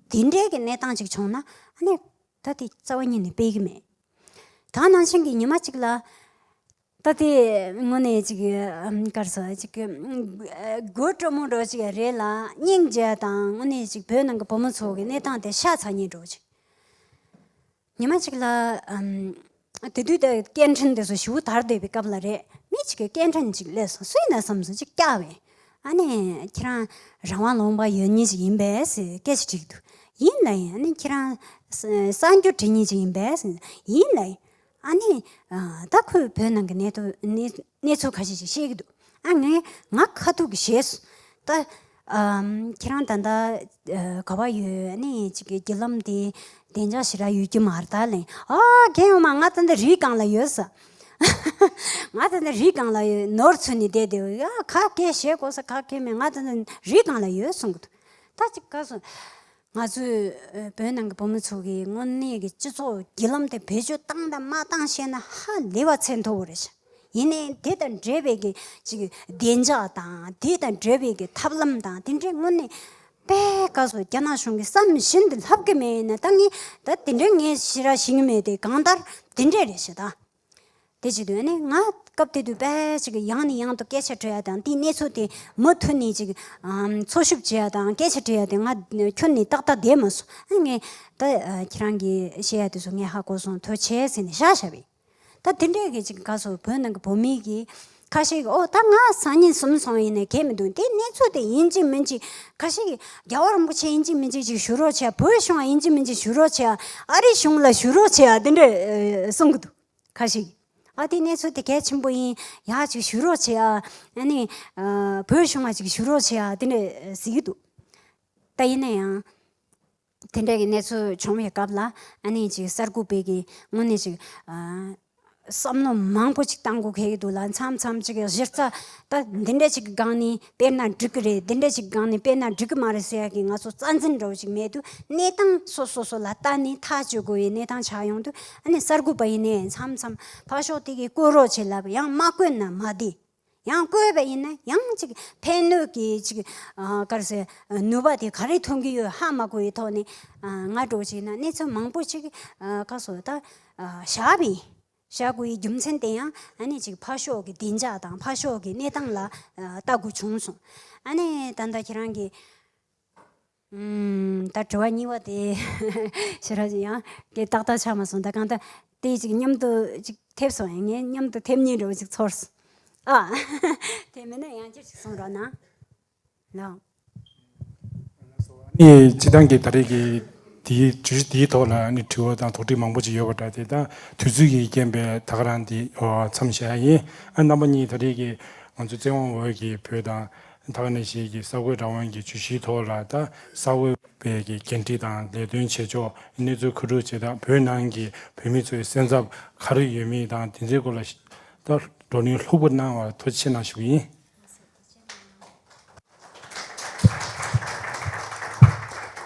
དེ་འདྲའི་གི་གནས་སྟངས་ཅིག་བྱུང་ན་ནི། ད་དེ་རྩ་བ་ཉིད་ནས་སྤེལ་གྱི་མེད། ད་ནང་བཞིན་གྱི་ཉི་མ་གཅིག་ལ། ད་དེ་དངོས་གནས་ཅིག་སྐར་ས་ཅིག་གི། དགུ་སྤྲོ་མོ་འགྲོ་ཅིག་རེད་ལ་སྙིང་རྗེ་དང་དངོས་གནས་ཅིག་བོད་ནང་གི་བུ་མོ་ཚོ་གི་གནས་སྟངས་དེ་ཤ་ཚ་ཉེ་འགྲོ་ཅིག། ཉི་མ་གཅིག་ལ། དེ་དུས་དེར་སྐད་འཕྲིན་དེ་ཚོ་ཞི་བོ་དར་འདས་པའི་སྐབས་ལ་རེད། མི་གཅིག་གིས་སྐད་འཕྲིན་ཅིག་ལས་སོང་སུས་ན་བསམས་སོང་ཅིག་སྐྱག་བས། ཨ་ནེ། ཁྱེད་རང། རང་དབང་ལོངས་པ་ཡོད་ཉིད་ཅིག་ཡིན་པས། སྐད་ཅིག་དྲིས་འདུག། ཡིན་ལ་ཡིན། ཨ་ནེ། ཁྱེད་རང། གསར་འགྱུར་བྲིས་ཉིད་ཅིག་ཡིན་པས། ཡིན་ལ་ཡིན། ཨ་ནེ། ད་ཁོས་བོད་ནང་གི་གནས་ཚུལ་ཁ་ཤས་ཤིག་བཤད་ཀྱི་འདུག་ཨ་ངས་ང་ཁ་ཐུག་གིས་བཤད་སོང། ད། ཁྱེད་རང་ད་ལྟ་ག་བ་ཡོད་ཨནི་ཅིག་གི་ལམ་དེ་བདེ་འཇགས་ཞེ་དྲག་ཡོད་ཀྱི་མ་རྟ་ལན། ཨ་ཁྱེད་ཡོང་མ་ང་ད་ལྟ་རིའི་སྒང་ལ་ཡོད་ས། ང་ད་ལྟ་རིའི་སྒང་ལ་ཡོད་ནོར་འཚོལ་ནས་བསྡད་དེ་ཨ་ག་གེ་བཞེས་དགོས་ས་ག་གེ་མེད་ང་ད་ལྟ་རིའི་སྒང་ལ་ཡོད་གསུངས། ད་ཅིག་ག་སོང། ང་ཚོས་བོད་ནང་གི་བུ་མོ་ཚོ་གིས་དངོས་གནས་ཀྱི་སྤྱི་ཚོགས་བརྒྱུད་ལམ་དེ་བེད་སྤྱོད་བཏང་དང་མ་བཏང་བཤད་ན་ཧ་ལས་པ་ཚད་མཐོ་བོ་རེད། ཡིན་ནའི་དེ་དང་འབྲེལ་བའི་གི་ཅིག་བདེ་འཇགས་དང་དེ་དང་འབྲེལ་བའི་གི་ཐབས་ལམ་དང་དེ་འདྲའི་དངོས་གནས་པད་དཀའ་སོ་རྒྱ་ནག་གཞུང་གིས་བསམ་བཞིན་དུ་ལྷབ་གི་མེད་ཡིན་ན་ད་ངས་ད་དེ་འདྲའི་ངས་ཤེས་ར་ཤེས་ངེས་མེད་དེ་གང་ལྟར་དེ་འདྲས་རེད་བཤད་ད། དེ་བྱེད་དོན་ནི་ང་སྐབས་དེ་དུས་དཔལ་ཅིག་ཡང་ནས་ཡང་དུ་སྐད་ཆ་དྲི་ཡ་དང་དེའི་གནས་ཚུལ་དེ་མུ་མཐུད་ནས་ཅིག་འཚོལ་ཞིབ་བྱེད་ཡ་དང་སྐད་ཆ་དྲི་ཡ་དེ་ང་ཁྱོན་ནས་ཏག་ཏག་བསྡད་མ་སོང་ཨ་ངས་ད་ཁྱེད་རང་གིས་བཤད་ཡ་དེ་ཚོ་ངས་ཧ་གོ་སོང་དོལ་བྱས་ཟེར་ནས་བཞག་བཞག་པས། ད་དེ་འདྲས་ཀྱི་ཅིག་ག་ཚོད་བོད་ནང་གི་བོད་མིའི་གི་ཁ་ཞིག་ཨོ་ད་ང་སང་ཉིན་གསུམ་སོང་ཡིན་ནའི་ཁེལ་མི་འདུག་དེ་གནས་ཚུལ་དེ་ཡིན་གཅིག་མིན་གཅིག་ཁ་ཞིག་རྒྱ་བོ་རིན་པོ་ཆེ་ཡིན་གཅིག་མིན་གཅིག་ཅིག་ཞུ་རོགས་བྱེད་བོད་གཞུང་ཡིན་གཅིག་མིན་གཅིག་ཞུ་རོགས་བྱེད་ཨ་རི་གཞུང་ལ་ཞུ་རོགས་བྱེད་དེ་འདྲ་གསུང་གི་འདུག་ཁ་ཞིག་ཨ་དེ་གནས་ཚུལ་དེ་གལ་ཆེན་པོ་ཡིན་ཡག་ཅིག་ཞུ་རོགས་བྱེད་ཨ་ནི་བོད་གཞུང་ལ་ཅིག་ཞུ་རོགས་བྱེད་དེ་འདྲ་ཟེར་གྱི་འདུག་ད་ཡིན་ན་ཡང། དེ་འདྲ་གི་གནས་ཚུལ་བྱུང་བའི་སྐབས་ལ་ཨ་ནེ་ཅིག་གསར་འགོད་པའི་གིས་དངོས་གནས་ཅིག་བསམ་བློ་མང་པོ་ཅིག་གཏང་དགོས་གལ་ཡོད་འདུག་ལ་མཚམས་མཚམས་ཅིག་གཞི་རྩ་ད་འདི་འདྲ་ཅིག་གི་སྒང་ནས་དཔེར་ན་འགྲིག་གི་རེད་འདི་འདྲ་ཅིག་གི་སྒང་ནས་དཔེར་ན་འགྲིག་གི་མ་རེད་ཟེར་ཡག་གི་ང་ཚོ་རྩ་འཛིན་འདྲ་བོ་ཅིག་མེད་དུས་གནས་སྟངས་སོ་སོ་སོ་ལ་ལྟ་ནས་ཐག་གཅོད་དགོས་པའི་གནས་སྟངས་ཆགས་ཡོང་དུས་ཨ་ནེ་གསར་འགོད་པ་ཡིན་ནའི་མཚམས་མཚམས་ཕར་ཞོག་དེ་གིས་བཀོད་རོགས་བྱེད་ལབ་ཡང་མ་བཀོད་ན་མ་བདེ། ཡང་བསྐོས་པ་ཡིན་ན་ཡང་ཅིག་ཕན་གནོད་ཀྱི་ཅིག་དཀར་སེར་ནུས་པ་དེ་ག་རེ་ཐོན་གྱི་ཡོད་ཧ་མ་གོ་བའི་ཐོག་ནས་ང་སྒྲོག་བྱས་ན་གནས་ཚུལ་མང་པོ་ཅིག་ཁ་སོ་ད་བཞག་པའི་བཞག་དགོས་ཡི་རྒྱུ་མཚན་དེ་ཡང་ཨ་ནི་ཅིག་ཕ་ཤོག་གི་བདེ་འཇགས་དང་ཕ་ཤོག་གི་གནས་སྟངས་ལ་ལྟ་དགོས་བྱུང་སོང་ཨ་ནི་ད་ལྟ་ཁྱེད་རང་གི། ད་དྲི་བ་གཉིས་པ་དེ་ཤི་ར་ཅི་ཡང་དེ་ཏག་ཏག་ཆགས་མ་སོང་ད་གང་ལྟར་དེ་ཅིག་མཉམ་དུ་ཅིག་ཐེབས་སོང་ཡང་ངས་མཉམ་དུ་ཐེབས་ཉིན་རེ་བ་ཅིག་ཚོར་སོང་ཨ། དེ་མིན་ན་ཡང་བསྐྱར་ཅིག་གསུངས་རོགས་གནང། ལགས། ཨ་ནི་སྤྱི་བཏང་གི་ད་རེས་ཀྱི་དེའི་བརྗོད་གཞི་དེའི་ཐོག་ལ་ཨ་ནི་དྲི་བ་དང་དོགས་འདྲི་མང་པོ་ཅིག་ཡོད་པ་འདྲ་དེ་དག་དུས་ཚོད་ཀྱིས་རྐྱེན་པས་ད་ག་རང་འདི་འོ་འཚམས་བཞག་ཡིན། ཨ་རྣམ་པ་གཉིས་ད་རེས་ཀྱི་ང་ཚོའི་བཙན་དབང་འོག་གི་བོད་དང། དག་ནས་བཞེས་ཀྱིས་ས་ཁོད་རང་དབང་གི་ཇུས་གཞིའི་ཐོག་ལ་དྭགས་ས་ཁོད་བེད་ཀྱི་འགན་འཁྲི་དང་ལས་དོན་བྱེད་ཕྱོགས་གནས་ཚུལ་མཁོ་སྒྲུབ་བྱེད་སྟངས་བོད་ནང་གི་བོད་མི་ཚོའི་སེམས་འཚབ་ག་རེ་ཡོད་མེད་དང་དེ་ཚོའི་སྐོར་ལ་བགྲོ་གླེང་ལྷུག་པོ་གནང་བར་ཐུགས་ཆེ་གནང་ཞུ་རྒྱུ་ཡིན།